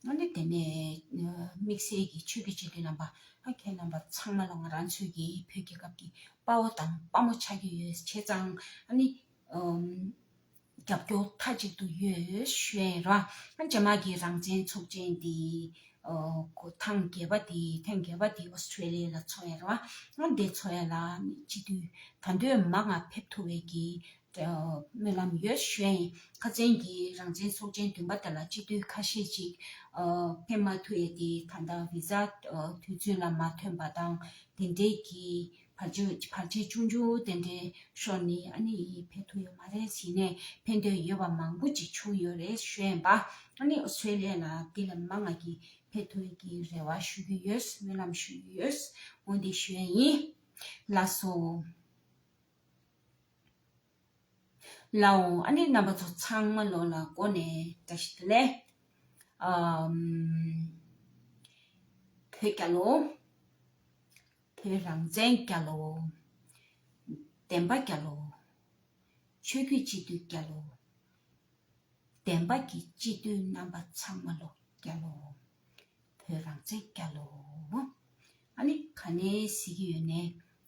སྔོན་ནས་དེ་ནས་དམིགས་བསལ་གྱི་ཆོས་ཀྱི་སྤྱི་འདུས་རྣམ་པ། ཁྱེད་རྣམ་པ་ཚང་མ་ལ་ང་རང་ཚོས་ཀྱི་བོད་རྒྱལ་ཁབ་ཀྱི་དཔའ་བོ་དང་དཔའ་མོ་ཆགས་ཀྱི་ཡོད་བྱས་ཙང་རྒྱབ་སྐྱོར་མཐའ་གཅིག་ཏུ་ཡོད་ཤོད་ར། རྗེས་མ་གི་རང་བཙན་ཚོགས་ཆེན་དེ་ཐང་རྒྱལ་བ་དེ་ཐེངས་རྒྱལ་བ་དེ Australia ལ་འཚོ་ཡ་ར། འདི་འཚོ་ཡ་ལ་ནི་སྤྱི་འཐུས་ད་འདོད་མ་ང་ཕེབས་ཐུབ་བའི་གི་སྨོན་ལམ་ཡོད་གཞོན་ཁ་ཅན་གྱིས་རང་བཙན་ཚོགས་ཆེན་བདུན་པ་དེ་ལ་སྤྱི་འཐུས་ཁ་ཤས་ཅིག་ཕེབས་མ་ཐུབ་ཡས་དེ་ད་ལྟ་བི་ཟ་དུས་ཚོད་ལ་མ་ཐོན་པ་དང་དེ་འབྲེལ་གྱི་བར་ཆད་ཆུང་ཆུང་དེ་འདྲའི་ཤོར་ནས་ཨ་ནི་ཡིས་ཕེབས་ཐུབ་ཡོད་མ་རེད་ཟེར་ནས་ཕེབས་འདོད་ཡོད་པ་མང་པོ་ཅིག་བྱུང་ཡོད་རེད་གཞོན་པ་ཨ་ནི་ཨོ་སི་ཁྲེ་ལི་ཡ་ལ་དེ་ལ་མ་ང་གིས་ཕེབས་ཐུབ་ཡོད་ཀྱི་རེ་བ་ཞུ་གི་ཡོད་སྨོན་ལམ་ཞུ་ཡི་ཡོད་འོན་ཏེ་གཞོན་ཡིན་ལགས་སོ། ལ་འོ་ཨ་ནི་རྣམ་པ་ཚོ་ཚང་མ་ལོ་ལ་གོ་ནས་བཀྲ་ཤིས་བདེ་ལེགས། བོད་རྒྱ་ལོ། བོད་རང་བཙན་རྒྱ་ལོ། བདེན་པ་རྒྱ་ལོ། ཆོས་རྒྱུད་སྤྱི་འཐུས་རྒྱ་ལོ། བདེན་པ་གྱི་སྤྱི་འཐུས་རྣམ་པ་ཚང་མ་ལོ་རྒྱ་ལོ། བོད་རང་བཙན་རྒྱ་ལོ། ཨ་ནི་ག་ནས་ཟེར་གྱི་ཡོད་ནས་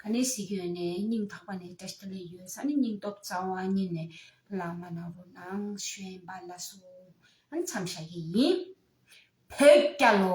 ག་ནས་ཞིག་ཡོད་ནས་སྙིང་ཐག་པ་ནས་བཀྲ་ཤིས་ལ་ཡོད་ས་ནི་སྙིང་སྟོབས་རྩ་བ་ཉིད་ནས་བླ་མ་ནག་པོ་ནང་བཞོན་པ་ལ་སོགས་ཨང་འཚམས་བྱ་ཡི་ཡིན། བོད་སྐྱ་ལོ།